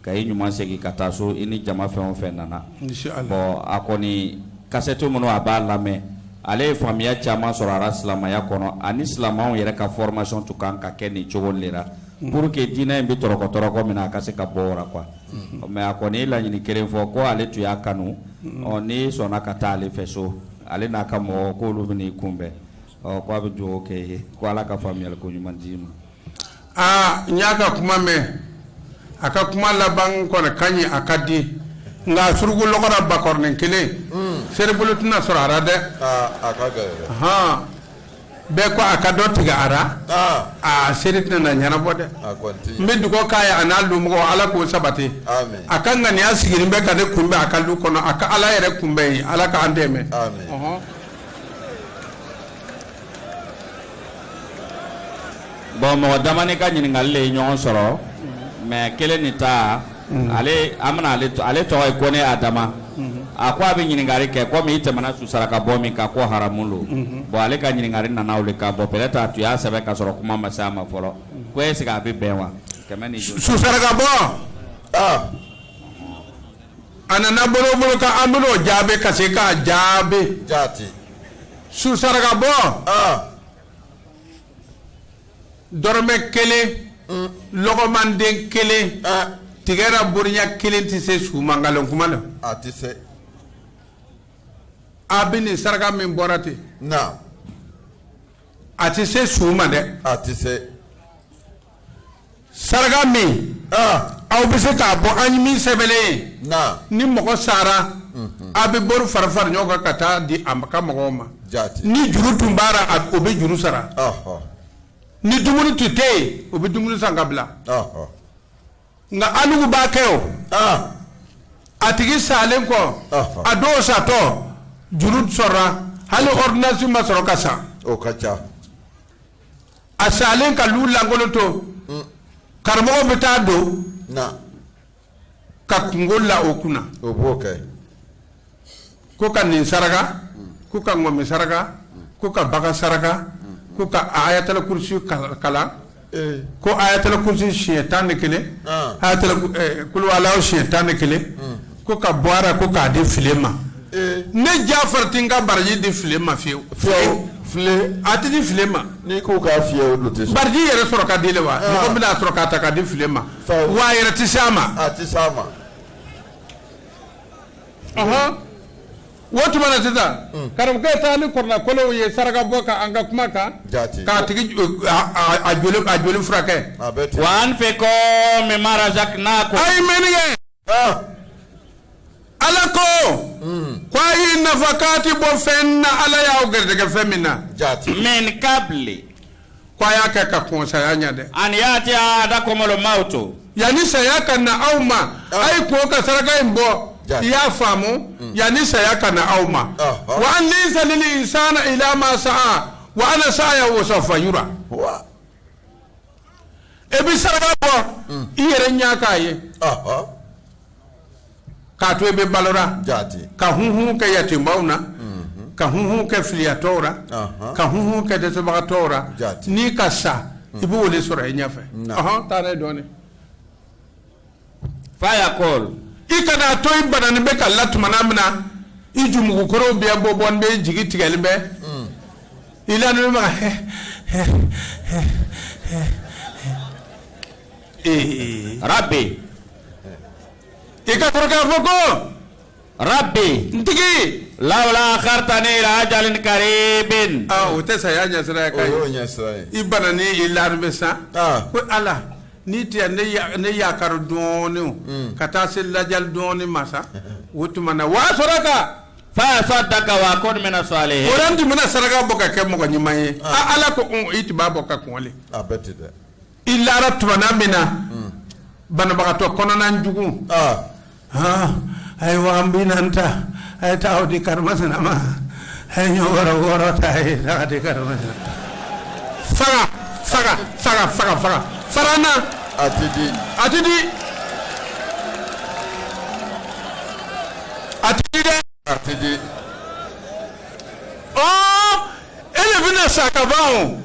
S1: ka i ɲuman segin ka taa so i ni jama fɛn o fɛn nana bɔn a kɔni kasɛtiw minnu a b'a lamɛn ale ye faamuya caman sɔrɔ a la silamɛya kɔnɔ ani silamɛw yɛrɛ ka fɔrimasɔn tun ka kan ka kɛ nin cogo de la pour que diinɛ in bɛ tɔrɔkɔtɔrɔkɔ min na a ka se ka bɔ a la mɛ a kɔni ye laɲini kelen fɔ ko ale tun y'a kanu n'i sɔnna ka taa ale fɛ so ale n'a ka mɔgɔw ko olu b'i kunbɛn ɔ k' a bɛ dugawu kɛ i ye ko ala ka faamuya ko ɲuman d'i ma aa n y'a ka kuma mɛn a ka kuma laban kɔni ka ɲi a ka di nka suruku lɔgɔra bakɔrɔnin kelen seribolo tɛna sɔrɔ a la dɛ aa a ka gɛlɛn dɛ hɔn bɛɛ ko a ka dɔ tigɛ a la aa aa seri tɛna na ɲɛnabɔ dɛ a kɔni ti n bɛ dugawu k'a ye a n'a lumɔgɔw ala k'o sabati Amen. a ka ŋaniya sigilen bɛ ka ne kunbɛn a ka du kɔnɔ a ka ala yɛrɛ kunbɛn ye ala k'an dɛmɛ Amen. Ɔhɔn. Bon mɔgɔ damanin ka ɲininkali ye ɲɔgɔn sɔrɔ mɛ kelen nin ta ale tɔgɔ ye Kone Adama a ko a bɛ ɲininkali kɛ komi i tɛmɛna su saraka bɔ min kan ko haramu don bon ale ka ɲininkali nana o de kan bon peut-être a tun y'a sɛbɛn ka sɔrɔ kuma ma se a ma fɔlɔ ko est-ce que a bɛ bɛn wa su saraka bɔ a nana bolo bolo an b'o jaabi ka se k'o jaabi Su saraka bɔ dɔrɔmɛ kelen lɔgɔma den kelen tigɛ bonya kelen tɛ se su ma nkalon kuma de a tɛ se a bɛ nin saraka min bɔra ten a tɛ se su ma dɛ a tɛ se saraka min aw bɛ se k'a bɔ an ye min sɛbɛnnen ye ni mɔgɔ sara aw bɛ bolo fara fara ɲɔgɔn kan ka taa di a ka mɔgɔw ma ni juru tun b'a la o bɛ juru sara ni dumuni tun tɛ yen o bɛ dumuni san ka bila nka alugu b'a kɛ o a tigi salen kɔ a dɔw satɔ juru sɔrɔ hali ɔridɔnansi ma sɔrɔ ka sa a salen ka lu lankolon to mm. karamɔgɔ bɛ taa don ka kunko la o kunna ko ka nin saraka mm. ko ka ŋɔmi saraka mm. ko ka bagan saraka ko ka ayatala kurusi kalan eh. ko ayatala kurusi siɲɛ tan ni kelen ah. ayatala eh, kuluwalaw siɲɛ tan ni kelen ko ka bɔ ko k'a di fili ma ne Jafari tɛ k'a baraji di fili ma fiyewu a tɛ di fili ma n'i ko k'a fi baraji yɛrɛ sɔrɔ ka di wa ah. bɛna sɔrɔ k'a ta ka di fili ma wa a yɛrɛ tɛ se a ma a tɛ se a ma o tuma na sisan hmm. karamɔgɔkɛ taa ni kɔrɔlakolonw ye saraka bɔ ka an ka kuma kan k'a tigi a joli furakɛ wa an fɛ k'o mɛn mara n'a ko a ye mɛnni kɛ Ah. ala ko hmm. ko a ye nafakati bɔ fɛn na ala y'aw garijɛgɛ fɛn min na jati min kabili ko a y'a kɛ ka kɔn saya ɲɛ dɛ an yatiya ahadakumulu mawutu yanni saya ka na aw ma ah. a ye kɔn ka saraka in bɔ i y'a faamu hmm. yanni saya ka na aw ma ah, wa an layisa lili insana ila ma sa'a wa ana sa'ayawu sawufa yura e bɛ saraka bɔ i yɛrɛ ɲɛ k'a ye k'a to e bɛ balo la ka hunhun kɛ yatimaw na ka hunhun kɛ filiyatɔw la ka hunhun kɛ dɛsɛbagatɔw la n'i ka sa i b'o de sɔrɔ i ɲɛfɛ taa dɔɔnin fa yakulu i kana to i bananen bɛ ka la tuma min na i jukɔrɔ bɛ bɔ bɔ bɛɛ jigi tigɛlen bɛ mm. i la ma arabe i ka kɔrɔ k'a fɔ ko Rabi n tigi lawula akaritani ila ajalin karibin o tɛ saya ɲɛsiran ka i bananen i lalen bɛ sa ko ala ni tɛ ne yakari dɔɔnin hmm. ka taa se lajali dɔɔnin ma sa o tuma na waa sɔrɔ kan fa asadaka wa akun mina salihi o la n tun bɛna saraka bɔ ka kɛ mɔgɔ ɲuman ye ala ko i tun b'a bɔ ka kɔn de i lara tumana min na hmm. banabagatɔ kɔnɔna jugu ah. ah, a ye waga binaani ta a ye taa o di karimasina ma a ye ɲɔ bɔrɔ wɔɔrɔ ta a ye taa di karimasina faga faga faga faga faga farana a ti di a ti di a ti di dɛ a ti di ɔɔ. e de bɛna sa ka ban o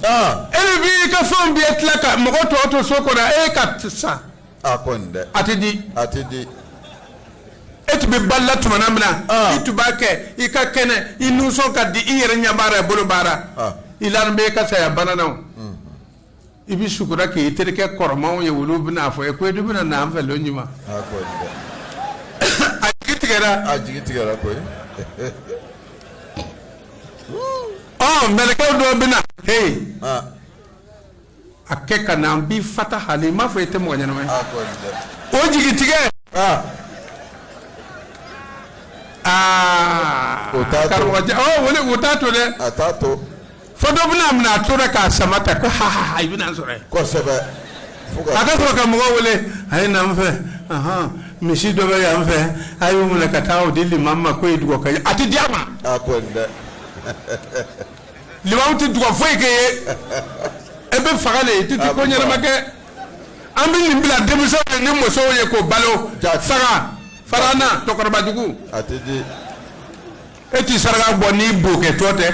S1: e de b'i ka fɛnw bɛɛ tila ka mɔgɔ tɔ to so kɔnɔ e ka sa a kɔni dɛ a tɛ di a tɛ di e tun bɛ balo la tuma min na i tun b'a kɛ i ka kɛnɛ i nisɔn ka di i yɛrɛ y'a baara i bolo baara i lalen bɛ e ka saya bana na i bɛ su kura kɛ i terikɛ kɔrɔmaw ye olu bɛna fɔ i ye ko i dun bɛna na an fɛ lon juman a jigi tigɛ a jigi tigɛ koyi mɛlɛkɛw dɔ bɛna na a kɛ ka na an bi fata hali i m'a fɔ i tɛ mɔgɔ ɲɛnama ye o jigi tigɛ aa o taa to dɛ Fo dɔ bɛna a minɛ a tora k'a sama ta ko ha ha ha i bɛna n sɔrɔ yen. Kosɛbɛ. Fo ka. A ka sɔrɔ ka mɔgɔ wele a ye na n fɛ ahan misi dɔ bɛ yan fɛ a y'o minɛ ka taa o di limamu ma k'o ye duga kɛ a tɛ di a ma. A kɔni dɛ. Limamu tɛ duga foyi kɛ i ye e bɛ faga de i tɛ ko ɲɛnama kɛ an bɛ nin bila denmisɛnw ni musow ye k'u balo saga farana cɛkɔrɔbajugu. A tɛ di. e tɛ saraka bɔ n'i b'o kɛtɔ tɛ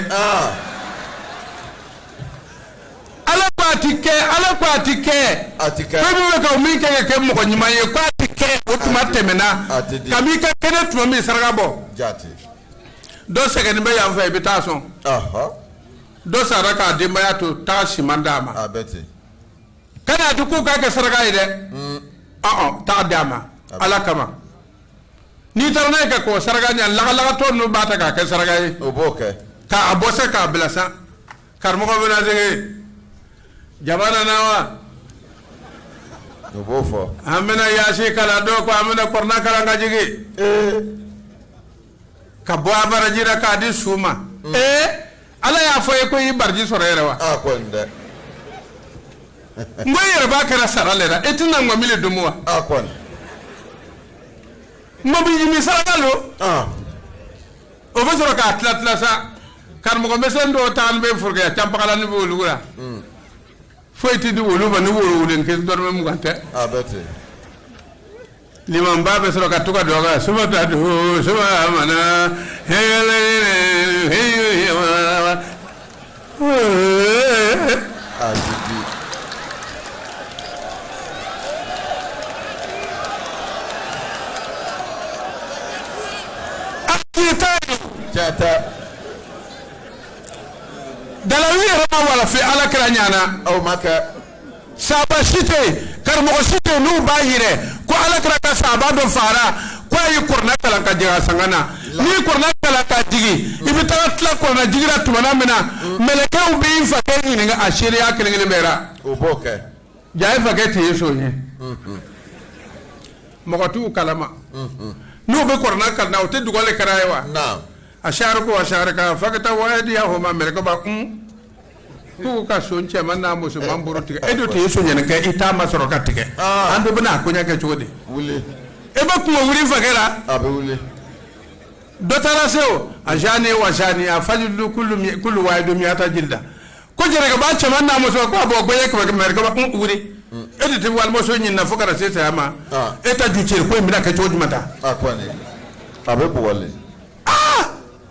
S1: ala ko a ti kɛ ala ko a ti kɛ a ti kɛ fɛn min bɛ ka o min kɛ ka kɛ mɔgɔ ɲuman ye ko a ti kɛ o tuma tɛmɛna a ti di. kab'i ka kɛnɛ tuma min saraka bɔ jate dɔ sɛgɛnnen bɛ yan fɛ i bɛ taa a sɔn ɔhɔ dɔ sara k'a denbaya to taa siman d'a ma a bɛ ten kana a ti k'u k'a kɛ saraka ye dɛ ɔn ɔn taa d'a ma ala kama n'i taara n'a ye ka kɔkɔ saraka ɲɛ lagalagatɔ ninnu b'a ta k'a kɛ saraka ye o b'o kɛ k'a bɔ sa k'a bila sa karamɔgɔ bɛna sigi jama nana wa o b'o fɔ an bɛna yaasin kalan dɔw ko an bɛna kuranɛ kalan k'a jigin ka bɔ a baraji la k'a di su ma ee ala y'a fɔ i ye ko i baraji sɔrɔ yɛrɛ wa a kɔni dɛ n ko i yɛrɛ b'a kɛra sara le la e tɛna ŋɔmi le domu wa a kɔni ŋɔmi le saraka don o bɛ sɔrɔ k'a tila tila sa karamɔgɔ misɛn dɔw taa bɛ forokiya can bagala ni bɛ olu la foyi tɛ di olu ma ni woro den kelen dɔrɔmɛ mugan tɛ a bɛ ten limamuba bɛ sɔrɔ ka to ka duga su ma ta duga su ma mana hɛgɛlɛ dalilu yira ma walahi ala kira ɲana aw m'a kɛ Saba si tɛ karamɔgɔ si tɛ n'u b'a yira ko ala kira ka saba dɔ faara ko a ye kuranɛ kalan k'a jigin a sanga na n'i kuranɛ kalan k'a jigin i bɛ taa tila kuranɛ jigin ra tuma min na mɛlɛkɛw bɛ yafa ɲini a seya kelen kelen baraji ye fakɛ tɛ ye so ye mɔgɔ tɛ kalan a ma n'u bɛ kuranɛ kalan u tɛ duga kɛ a ye wa a sari ko a sari fa ka taa wadiya o ma mɛlɛkɛba kun ko ka son cɛman n'a musoman bolo tigɛ e dun tɛ ye sonyani kɛ i t'a ma sɔrɔ ka tigɛ an dun bɛna a koɲɛ kɛ cogo di wuli e bɛ kungo wuli fakɛ la a bɛ wuli dɔ taara se o a zani wa zaniya fajilidu kulu mi kulu wahidu miata jilda ko jɛnɛkɛba cɛman n'a muso ko a bugɔ ɲɛ kɛmɛ kɛmɛ kɛmɛ kun wuli e de tɛ walimuso ɲini na fo ka na se saya ma Ah. e ta ju cɛ ko in bɛna kɛ cogo jumɛn ta a kɔni a bɛ bugɔli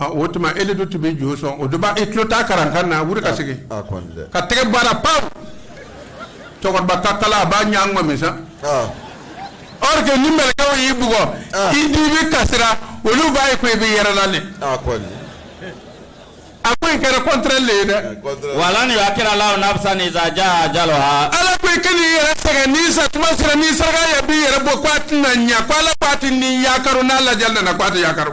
S1: o tuma e dun tun bɛ jo sɔn o e tulo ta kalankan na ka segin ka tɛgɛ baara pan cɛkɔrɔba ta kala a b'a ɲɛ ŋɔmi sa ɔ ni mɛlɛkɛw y'i bugɔ i di bɛ kasi ra olu b'a ye ko i bɛ yɛlɛ la de a ko i kɛra kɔnte le ye dɛ wa lan yuakira lahu nafisan iza ja ajaluha ala ko i ka nin yɛrɛ sɛgɛn ni sa tuma sera ni saraka yɛrɛ b'i yɛrɛ bɔ k' a tɛna ɲɛ ko ala k' a tɛ ni yakari n'a lajɛ nana k' a tɛ yakari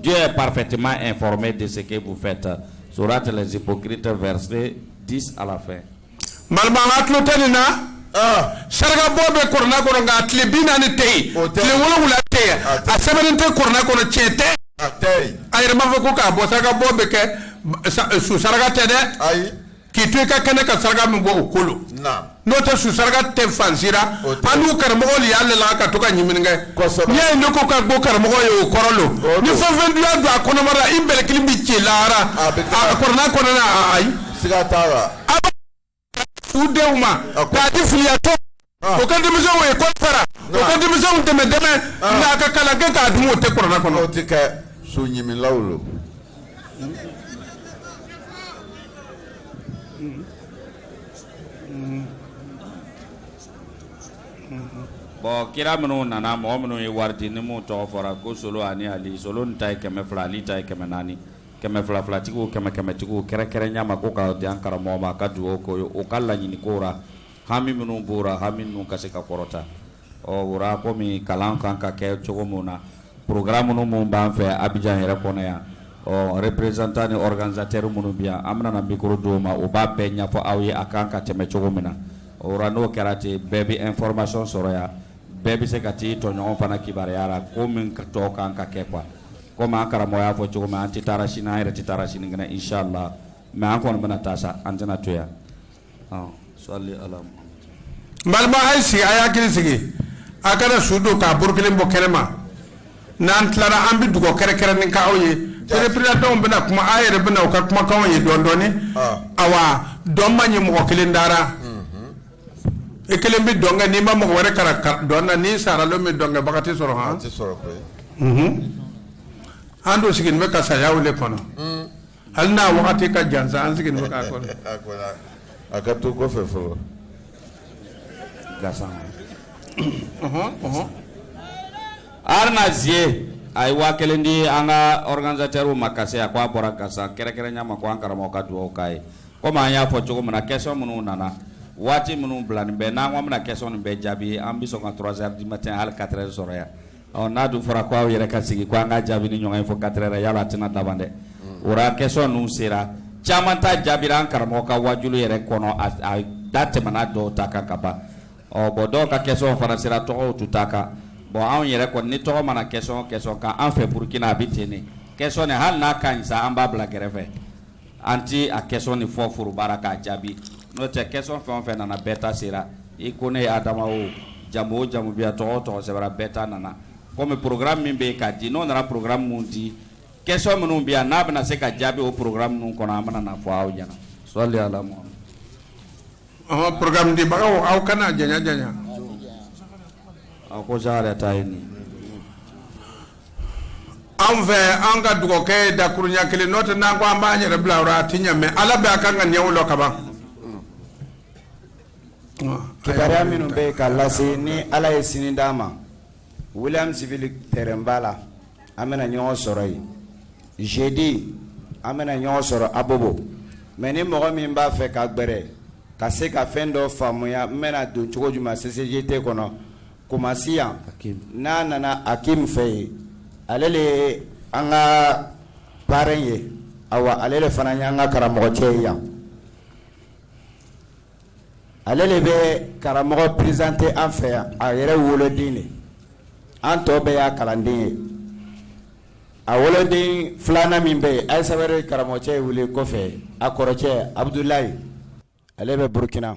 S1: Diɲɛ ye pafɛtɛma in fɔra de se b'u fɛ ta so tɛbo kiirite fɛre di ala fɛ marabaga tulo tɛ nin na sarakabɔ bɛ k kɔnɔ nka tile bi naani ni tɛ yen o tɛ wolowula tɛ yen a sɛbɛn tɛ kna kɔnɔ cɛ tɛ a yɛrɛ b'a fɔ ko k'a bɔ saraka bɔ bɛ kɛ su saraka tɛ dɛ ayi k'i to i ka kɛnɛ ka saraka min bɔ o ko lo n'o tɛ su saraka tɛ fan si ra annu karamɔgɔ de y'ale la ka to ka ɲiminni kɛ n'i y'a ye ne ko ka gbo karamɔgɔ ye o kɔrɔ lo nin fɛn o fɛn dunya don a kɔnɔbara i bɛlɛkili bɛ ci lahara a kurana kɔnɔna ayi siga t'a la u denw ma k'a di filiyatɔ ah. o ka denmisɛnw lekɔli sara o ka denmisɛnw dɛmɛ dɛmɛ ah. nka a ka kalan kɛ k'a dun o tɛ kurana kɔnɔ o tɛ kɛ su ɲimilaw lo bɔn kira minnu nana mɔgɔ minnu ye wari di ni minnu tɔgɔ fɔra ko solo ani ali solo ni ta ye kɛmɛ fila ali ta ye kɛmɛ naani kɛmɛ fila filatigiw kɛmɛ kɛmɛtigiw kɛrɛnkɛrɛnya ma ko ka di an karamɔgɔ ma a ka dugawu k'u ye o ka laɲini ko ra hami minnu bɔra hami minnu ka se ka kɔrɔta ɔ wala kɔmi kalan kan ka kɛ cogo min na pkra minnu minnu b'an fɛ Abijan yɛrɛ kɔnɔ yan ɔ représentant ani organisateur minnu bi yan an bɛna mikoro d'u ma o b'a bɛɛ ɲɛfɔ aw ye a kan ka tɛmɛ cogo min na o n'o kɛra ten bɛɛ bɛ informasɔn sɔrɔ yan bɛɛ bɛ se ka taa tɔɲɔgɔn fana kibaruya wala ko min ka tɔ kan ka kɛ kuwa komi an karamɔgɔ y'a fɔ cogo min an tɛ taa sini an yɛrɛ tɛ taa sini kɛnɛ inchallah mɛ an kɔni bɛna taa sa an tɛna to yan balima a ye sigi a y'a hakili sigi a kana su don k'a bolo kelen bɔ kɛnɛ ma n'an tilara an bɛ dugawu kɛrɛnkɛrɛnnen k'aw ye représentants bɛna kuma a yɛrɛ bɛna u ka kumakanw ye dɔndɔɔni awa dɔn man ɲi mɔgɔ kelen da ra e kelen bɛ dɔn kɛ n'i ma mɔgɔ wɛrɛ karan dɔn na n'i sara don min dɔnkɛbaga tɛ sɔrɔ an dun sigilen bɛ ka saya de kɔnɔ hali n'a wagati ka jan sa an sigi bɛ k'a kɔnɔ a ka to kɔfɛ fɔlɔ alize a ye waa kelen di an ka organisateurw ma ka se a k' a bɔra gansan kɛrɛnkɛrɛn ɲɛ ma ko an karamɔgɔ ka dugawu k'a ye kɔmi an y'a fɔ cogo min na question minnu nana waati minnu bilanin bɛ n'an ko an bɛna question nin bɛɛ jaabi an bɛ sɔn ka trois heures du matin hali quatre heures sɔrɔ yan Ɔ n'a dun fɔra ko aw yɛrɛ ka sigi ko an ka jaabi ni ɲɔgɔn ye fo quatre heures yala la a tɛna daban dɛ o question ninnu sera caman ta jaabi an karamɔgɔ ka waajuli yɛrɛ kɔnɔ a da tɛmɛna dɔw ta kan ka ban ɔ bɔn dɔw ka question fana sera tɔgɔw t'u ta kan bɔn anw yɛrɛ kɔni ni tɔgɔ ma na question kan an fɛ burukina a bɛ ten question hali n'a ka ɲi an b'a bila kɛrɛfɛ An tɛ a question nin fɔ foroba ra k'a jaabi n'o tɛ question fɛn o fɛn nana bɛɛ ta sera i Kone Adama o jamu o jamu bɛ yan tɔgɔ o tɔgɔ sɛbɛra bɛɛ ta nana comme programme min bɛ yen k'a di n'o nana programme min di question minnu bɛ yan n'a bɛna se ka jaabi o programme ninnu kɔnɔ an bɛna n'a fɔ aw ɲɛna sɔli Ala Mahamadu. Ɔhɔ programme dibagaw aw kana janya janya. Ɔ ko sa yɛrɛ ta ye nin ye. anw fɛ an ka dugawu kɛ dakuruɲa kelen n'o tɛ n'an ko an b'an yɛrɛ bila a tɛ ɲɛ mais ala bɛ an ka koɲɛw lɔn ka ban kibaruya minnu bɛ yen ka lase ni ala ye sini d'an ma williamsville terrainba la an bɛna ɲɔgɔn sɔrɔ yen jeudi an bɛna ɲɔgɔn sɔrɔ abobo mais ni mɔgɔ min b'a fɛ ka gbɛrɛ ka se ka fɛn dɔ faamuya n bɛna don cogo jumɛn ccgt kɔnɔ kumasi yan n'a nana akim fɛ yen ale de ye an ka baara ye ale de fana ye an ka karamɔgɔ cɛ ye yan ale de bɛ karamɔgɔ représenter an fɛ yan a yɛrɛ woloden de an tɔ bɛɛ y'a kalanden ye a woloden filanan min bɛ yen a ye sababu ye karamɔgɔcɛ ye wele kɔfɛ a kɔrɔcɛ abudula ale bɛ burukina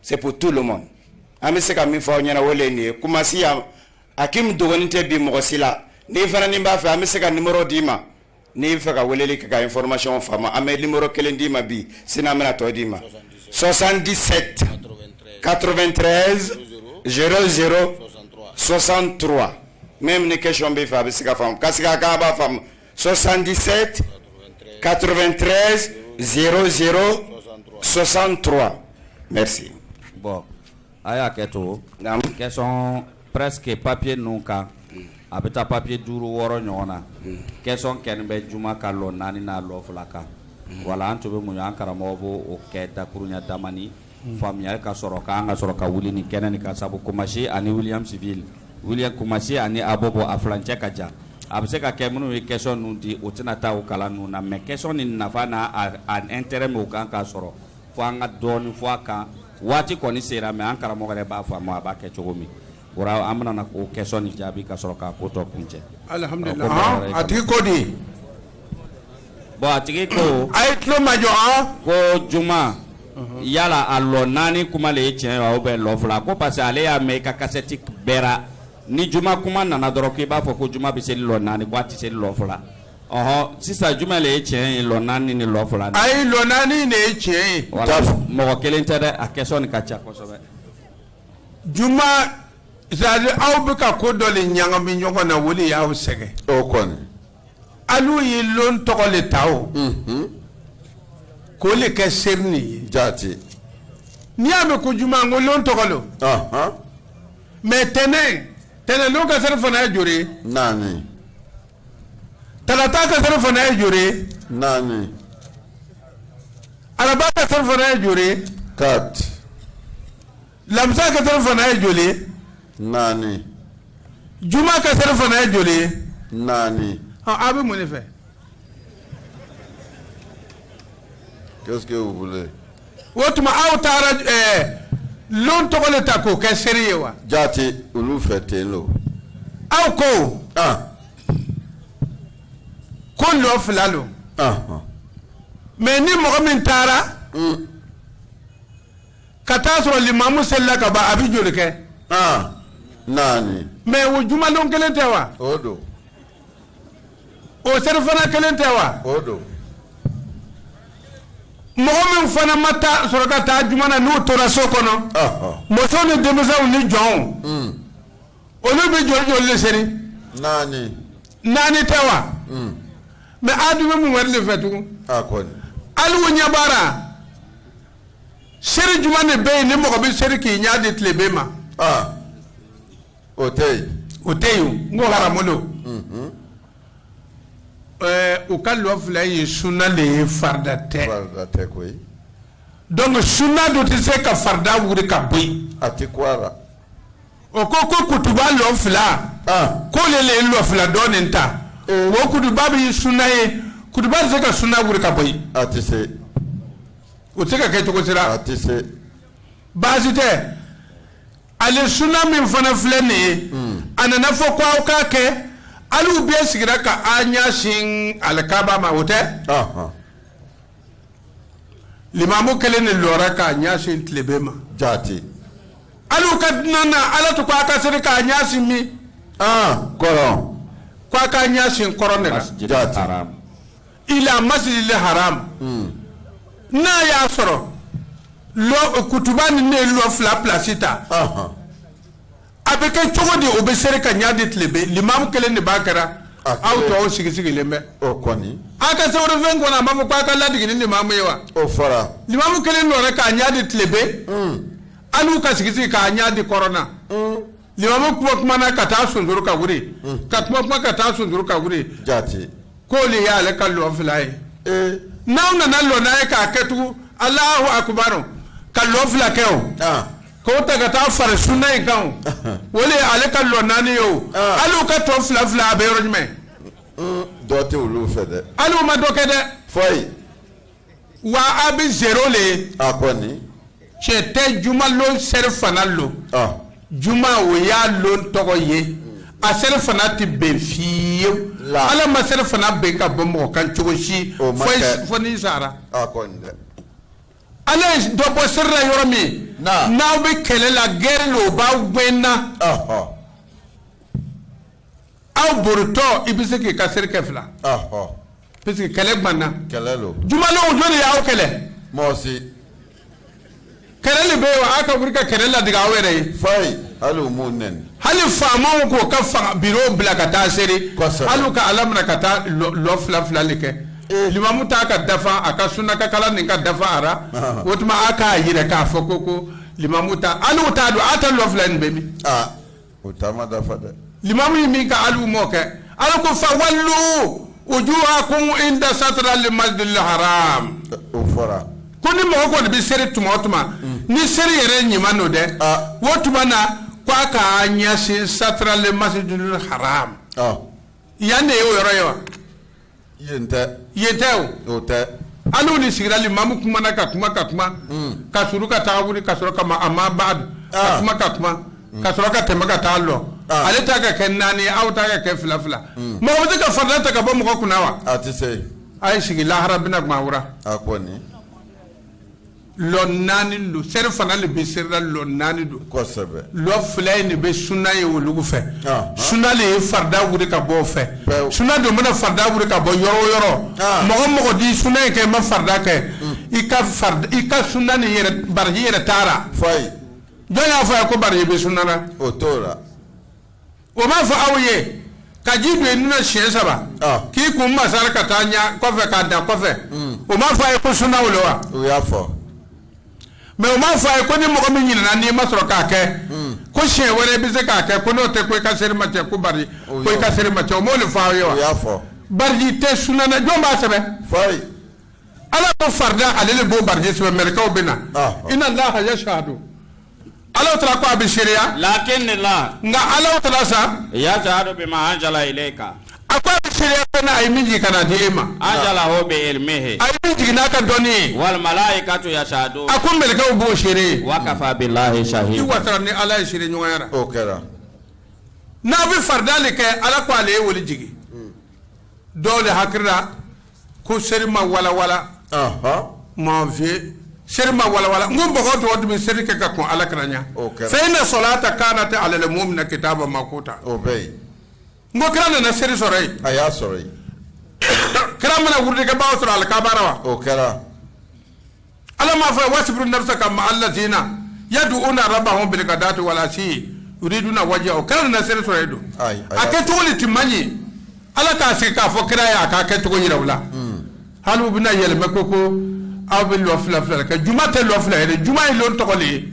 S1: c'est pour tout le monde an bɛ se ka min fɔ aw ɲɛna o le ye nin ye Kumasi yan Akim dogonin tɛ bi mɔgɔ si la n'i fana n'i b'a fɛ an bɛ se ka numéro d'i ma n'i b'a fɛ ka weleli kɛ ka information faamu an bɛ numéro kelen d'i ma bi sini an bɛna tɔ d'i ma 77 93 00 63 même ni question b'i fɛ a bɛ se ka faamu ka sigi a kan a b'a faamu 77 93 00 63 merci bon a y'a kɛ to naamu question presque papier ninnu kan a bɛ taa papier duuru wɔɔrɔ ɲɔgɔn na question kelen bɛ juma ka lɔ naani n'a lɔ fila kan wala an tun bɛ muɲu an karamɔgɔ b'o kɛ dakuruɲa damani faamuyali ka sɔrɔ k'an ka sɔrɔ ka wuli ni kɛnɛ nin ka sabu kumasi ani williamsville kumasi ani abɔbɔ a furancɛ ka jan a bɛ se ka kɛ minnu ye question ninnu di o tɛna taa u kalan ninnu na mɛ question nin nafa n'a intérêt min kan ka sɔrɔ fo an ka dɔɔnin fɔ a kan waati kɔni sera mɛ an karamɔgɔ yɛrɛ b'a fɔ a ma a b'a kɛ cogo min an bɛna ko question nin jaabi ka sɔrɔ k'a ko tɔ kuncɛ a tigi ko di bon a tigi ko a ye tulo majɔ ko juma yala a lɔ naani kuma de ye tiɲɛ ye ou bien lɔ fila ko parce que ale y'a mɛn i ka kasɛti bɛɛ la ni juma kuma nana dɔrɔn k'i b'a fɔ ko juma bɛ seri lɔ naani ko a tɛ seri lɔ fila ɔɔ sisan jumɛn de ye tiɲɛ ye lɔ naani ni lɔ fila a ye lɔ naani de ye tiɲɛ ye mɔgɔ kelen tɛ dɛ a question nin ka ca kosɛbɛ juma sali aw bɛ ka ko dɔ de ɲagami ɲɔgɔn na o de y'aw sɛgɛn o kɔni alu ye lon tɔgɔ de ta aw k'o de kɛ seri nin ye jaati n'i y'a mɛn ko juma n ko lon tɔgɔ don ɔhɔn mɛ tɛnɛn tɛnɛn don ka serifana ye joli ye naani tarata ka serifana ye joli ye naani araba ka serifana ye joli ye quatre lamisa ka serifana ye joli ye naani juma ka serifana ye joli ye naani aw bɛ mun de fɛ qu'est-ce que vous voulez o tuma aw taara ɛɛ eh, lon tɔgɔ de ta k'o kɛ seri ye wa jaati olu fɛ ten lo aw ko ah. ko lɔ fila lo ah, ah. mɛ ni mɔgɔ min taara mm. ka taa sɔrɔ limamu selila ka ban a bɛ joli kɛ ah, naani mɛ o jumalon kelen tɛ wa o don o serifana kelen tɛ wa o don mɔgɔ min fana ma taa sɔrɔ ka taa juma na n'o tora so kɔnɔ ɔhɔ muso ni denmisɛnw ni jɔnw mm, olu bɛ joli joli de seri naani naani tɛ wa mm, mɛ a dun bɛ mun wɛrɛ de fɛ tugun a kɔni hali u ɲɛ b'a la seri jumɛn de bɛ yen ni mɔgɔ bɛ seri k'i ɲɛ di tileben ma ah. o tɛ yen o tɛ yen n ko haramu don mhm. eh, u ka lɔ fila ye sunna de ye farida tɛ farida tɛ koyi donc sunna dun tɛ se ka farida wuli ka bɔ yen a tɛ kun a la o ko ko kutuba lɔ fila ah. k'o le le ye lɔ fila dɔ nin ta eh. o kutuba bɛɛ ye sunna ye kutuba tɛ se ka sunna wuli ka bɔ yen a tɛ se. o tɛ ka kɛ cogo sera a tɛ se baasi tɛ ale sunna min fana filɛ nin ye hmm. a nana fɔ ko aw k'a kɛ alu bɛɛ sigira k'a ɲɛ sin ala kaba ma o tɛ limamu kelen ne lɔra k'a ɲɛ sin tilebe ma jate alu ka dunan na ala tun ko a ka seri k'a ɲɛ sin min kɔrɔ ko a ka ɲɛ sin kɔrɔn ne la jate ila masjidil haram n'a y'a sɔrɔ lɔ kutuba nin ne ye lɔ fila pilasi ta Ahan. a bɛ kɛ cogo di o bɛ seri k'a ɲa di tilebe limamu kelen de b'a kɛra A aw kelen. tɔw sigi sigilen bɛ o kɔni a ka sɛbɛnfɛn kɔnɔ a m'a fɔ k'a ka ladege ni limamu ye wa o fɔra limamu kelen lɔra k'a ɲa di tilebe alu ka sigi sigi k'a ɲa di kɔrɔn na limamu kuma kumana ka taa sonsoro ka wuli mm. ka kuma kuma ka taa sonsoro ka wuli jaati k'olu y'ale ka lɔ fila ye eh. n'a nana lɔ n'a ye k'a kɛ tugun alahu akubaru ka lɔ fila kɛ o ah. k'o ta ka taa fara sunna in kan o o de ye ale ka lɔ naani ye o ah. alu ka tɔ fila fila a bɛ yɔrɔ jumɛn mm, dɔ tɛ olu fɛ dɛ alu ma dɔ kɛ dɛ foyi wa a bɛ zero le ye a kɔni cɛ tɛ jumalon serifana lo ɔ juma o y'a lon tɔgɔ ye a serifana tɛ ben fewu La. ala ma serifana ben ka bɔ mɔgɔ kan cogo si O ma fo i- kɛ. fo n'i sara a kɔni dɛ ala ye dɔ bɔ seri la yɔrɔ min Na. n'aw bɛ kɛlɛ la gɛrɛ lo o b'aw gɛn na ɔhɔ aw boritɔ i bɛ se k'i ka seri kɛ fila parce que kɛlɛ banna kɛlɛ don jumalon jɔn ne y'aw kɛlɛ mɔgɔ si kɛlɛ de bɛ yen aw ka wuli ka kɛlɛ ladege aw yɛrɛ ye fayi hali u m'u nɛni hali faamaw k'o ka fanga biro bila ka taa seri alu ka ala minɛ ka taa lɔ fila fila de kɛ eh. limamu ta ka dafa a ka sunakakala nin ka dafa ara o tuma a k'a yira k'a fɔ ko ko limamu ta alu ta dun a ta lɔ fila nin bɛ min ah. o ta ma dafa dɛ limamu ye min kɛ alu m'o kɛ ala ko fa wallu wujuhakum inda satral masjidil haram o fɔra ko ni mɔgɔ kɔni bɛ seri tuma o tuma ni seri yɛrɛ ɲuman don dɛ Ah. o tuma na ko a ka ɲɛsin satral masjidil haram ɔ yan de ye o yɔrɔ ye wa Yen tɛ, yen tɛ o, o tɛ, an n'u de sigira limamu kumana ka kuma ka kuma, un, ka suru ka taa wili ka sɔrɔ ka ma a ma ban ka kuma ka kuma ka sɔrɔ ka tɛmɛ ka taa lɔ, ale ta ka kɛ naani ye aw ta ka kɛ fila fila, un, mɔgɔ bɛ se ka farida ta ka bɔ mɔgɔ kunna wa? A tɛ se, a ye sigi lahara bɛna gban aw ra, a kɔni naani don seri fana de bɛ serila lɔ naani don lɔ fila in de bɛ sunna ye olu fɛ sunna de ye farida wuli ka bɔ fɛ sunna dun bɛna farida wuli ka bɔ yɔrɔ o yɔrɔ mɔgɔ mɔgɔ di sunna in kɛ i ma farida kɛ i ka i ka sunna ni baraji yɛrɛ taara jɔn y'a fɔ a ye ko baraji bɛ sunna o m'a fɔ aw ye ka ji don i nun na siɲɛ saba ah. k'i kun masari ka taa ɲɛ kɔfɛ k'a dan kɔfɛ hmm. o m'a fɔ a ye ko sunna o la wa o y'a fɔ mɛ o m'a fɔ a ye ko ni mɔgɔ min ɲinana n'i ma sɔrɔ k'a kɛ hmm. ko siɲɛ wɛrɛ i bɛ se k'a kɛ ko n'o tɛ ko i ka seri ma tiɲɛ ko bari ko i ka seri ma tiɲɛ o m'o de fɔ aw ye wa o y'a fɔ baraji tɛ sunna na jɔn b'a sɛbɛn fayi ala ko farida ale de b'o baraji sɛbɛn mɛlɛkɛw bɛ na ah, ah. i na laha yasadu Ala taala ko a bɛ seereya la ne la nka ala taala yasadu bima anzala ilayika a ko bɛ seereya min ka na di e ma o bɛ ye a y'a jigin n'a ka dɔnni ye walimalayikatu yasadun a ko mɛlɛkɛw b'o seere wa kafa bilayi sa ni ala ye seere ɲɔgɔnyara kɛra n'a bɛ farida kɛ ala k ko ale ye wali jigin dɔw de hakilila ko seri ma walawala mɔnviye seri ma walawala n ko mɔgɔ tɔw tun bɛ seri kɛ ka kɔn ala kira ɲɛ fayina salata kaanati alali muminina kitaaban makuta n ko kira nana seri sɔrɔ yen a y'a sɔrɔ yen kira ma na wurudikɛbaaw sɔrɔ alikaaba la wa o kɛra ala m'a fɔ wasibiru nafusaka ma alaziina yaduuna rabahum bilikadaati walasiyi yuriduna wajiha o kira nana seri sɔrɔ yen don a kɛcogo de tun man ɲi ala k'a sigi k'a fɔ kira ye a k'a kɛcogo jira u la hali u bɛna yɛlɛmɛ ko ko aw bɛ lɔ fila fila kɛ juma tɛ lɔ fila ye dɛ juma ye lon tɔgɔ le ye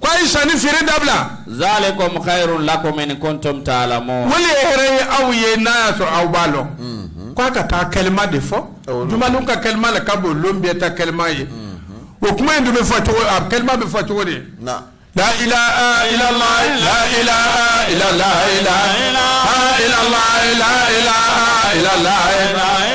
S1: Ko a ye sanni feere dabila zaalikumu kayiru lakum in kuntum talamun o le ye hɛrɛ ye aw ye n'a y'a sɔrɔ aw b'a dɔn k'i ka taa kalima de fɔ juma lon ka kalima le ka bon lon bɛɛ ta kalima ye o kuma in dun bɛ fɔ cogo a kalima bɛ fɔ cogo de la la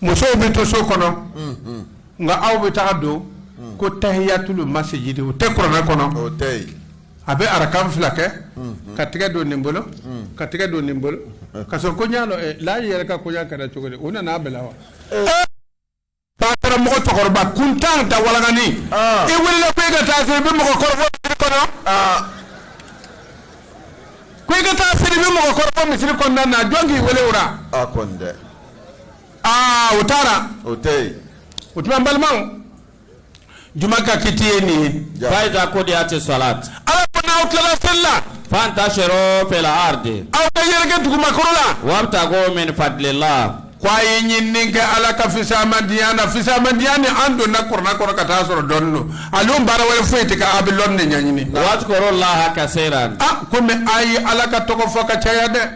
S1: musow bɛ to so kɔnɔ nka aw bɛ taa don ko tahiyatuli masijidi o tɛ kuranɛ kɔnɔ a bɛ arakan fila kɛ ka tɛgɛ don nin bolo ka tɛgɛ don nin bolo ka sɔrɔ ko la yɛrɛ ka koɲɛ kɛra cogo di o nana bɛ wa mɔgɔ cɛkɔrɔba kun tan da walaani ah. i wili ko i ka taa i bɛ mɔgɔ kɔrɔ kɔnɔ ah. ko i ka taa i bɛ mɔgɔ kɔrɔ fo misiri kɔnɔna na jɔn k'i weele o aa u taara o tɛ yen o tuma n balimaw juma ka kiti ye nin ye Ja. fa iza kudiyat salat ala ko n'aw tilala seli la fantashiru fil ardi aw ka yɛrɛkɛ dugumakolo la wabtagu min fadlillah ko a ye ɲinini kɛ ala ka fisamandiya na fisamandiya ni an donna kɔrɔ n'a kɔrɔ ka taa sɔrɔ dɔnni don ale baara wɛrɛ foyi tɛ ka a bɛ lɔni de ɲɛɲini wadhkurullaha kasiran a ko mɛ a ye ala ka tɔgɔ fɔ ka caya dɛ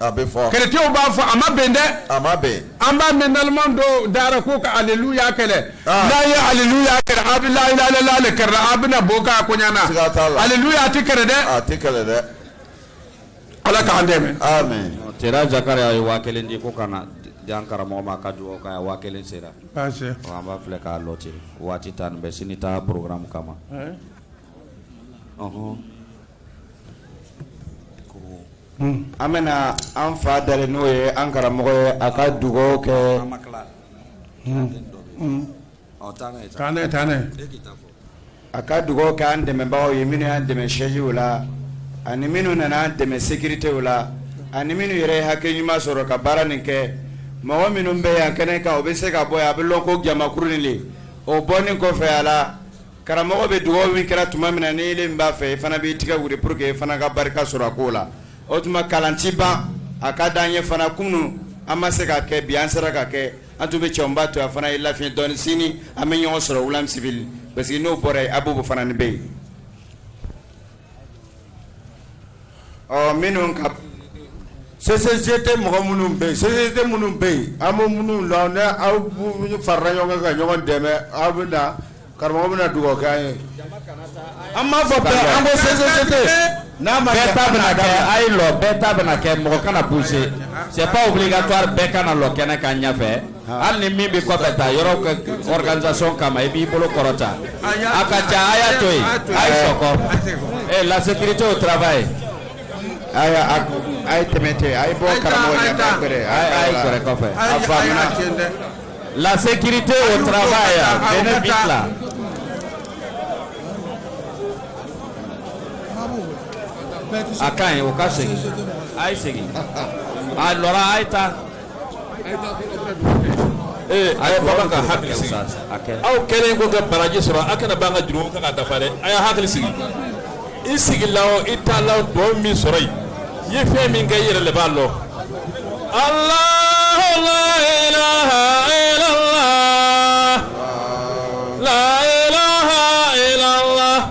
S1: A bɛ fɔ kerecɛnw b'a fɔ a ma bɛn dɛ a ma bɛn an b'a mɛn naloma dɔw da ra ko ka aliluya kɛlɛ ah. n'a ye aliluya kɛlɛ a bɛ lalalala kɛlɛ a bɛna bɔ k'a koɲana aliluya a tɛ kɛlɛ dɛ a tɛ kɛlɛ dɛ ala k'an dɛmɛ cɛ Jakariya ye waa kelen di ko ka na jan karamɔgɔ ma ka dugawu k'a ye waa kelen sera an b'a filɛ k'a lɔ ten waati tan nin bɛ sini ta programme kama An bɛ an fa dali n'o ye an karamɔgɔ ye a ka dugawu kɛ a ka dugawu kɛ an dɛmɛbagaw ye minnu y'an dɛmɛ sɛziw la ani minnu nana an dɛmɛ sécuritéw la ani minnu yɛrɛ ye hakili ɲuman sɔrɔ ka baara nin kɛ mɔgɔ minnu bɛ yan kɛnɛ kan u bɛ se ka bɔ a bɛ lɔn ko jamakuru de o bɔ kɔfɛ a la Karamɔgɔ bɛ dugawu min kɛra tuma min na ni e b'a fɛ e fana b'i tigɛ wili pour que e fana ka barika sɔrɔ a ko la o tuma kalan tɛ ban a ka di an ye fana kunun an ma se ka kɛ bi an sera ka kɛ an tun bɛ cɛba to a fana ye lafiɲɛ dɔɔni sini an bɛ ɲɔgɔn sɔrɔ Williamsville parce que n'o bɔra yen Abobo fana bɛ yen Ɔ minnu ka société mɔgɔ minnu bɛ yen société minnu bɛ yen an bɛ minnu la ni aw farala ɲɔgɔn kan ka ɲɔgɔn dɛmɛ aw bɛ na karamɔgɔ bɛ na dugawu kɛ aw ye an b'a fɔ an bɛ sete n'a ma bɛɛ ta bɛna kɛ a ye lɔ bɛɛ ta bɛna kɛ mɔgɔ kana pousser c'est pas obligatoire bɛɛ ka na lɔ kɛnɛ kan ɲɛfɛ hali ni min bɛ kɔfɛ taa yɔrɔ organisation kama i b'i bolo kɔrɔta a ka ca a y'a to yen a ye sɔkɔ ee la sécurité au travail a ye a ye tɛmɛ ten a ye bɔ karamɔgɔ ɲɛ k'a pere a ye sɔrɔ kɔfɛ a faamuna la sécurité au travail denin bila. a ka ɲi o ka segin a ye segin a lɔra a ye taa. Ee a ye banba ka hakili sigi aw kɛlen kɔ ka baraji sɔrɔ aw kana ban ka jurumu kɛ k'a dafa dɛ a ye hakili sigi i sigi la i t'a la dɔw min sɔrɔ yen i ye fɛn min kɛ i yɛrɛ de b'a lɔn ala la ilaha illallah la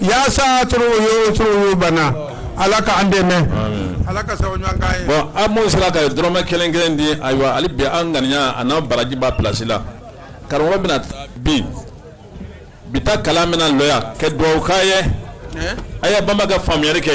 S1: Yaasa tɔɔrɔ o tɔɔrɔ b'an na ala ka an dɛmɛ ala ka an sera ka dɔrɔmɛ kelen kelen di ayiwa ala bi an ŋaniya ani an barajiba plasi la karamɔgɔ bɛna bin bi kalan bɛna lɔ yan ka dugawu kɛ a ye a ye banba ka faamuyari kɛ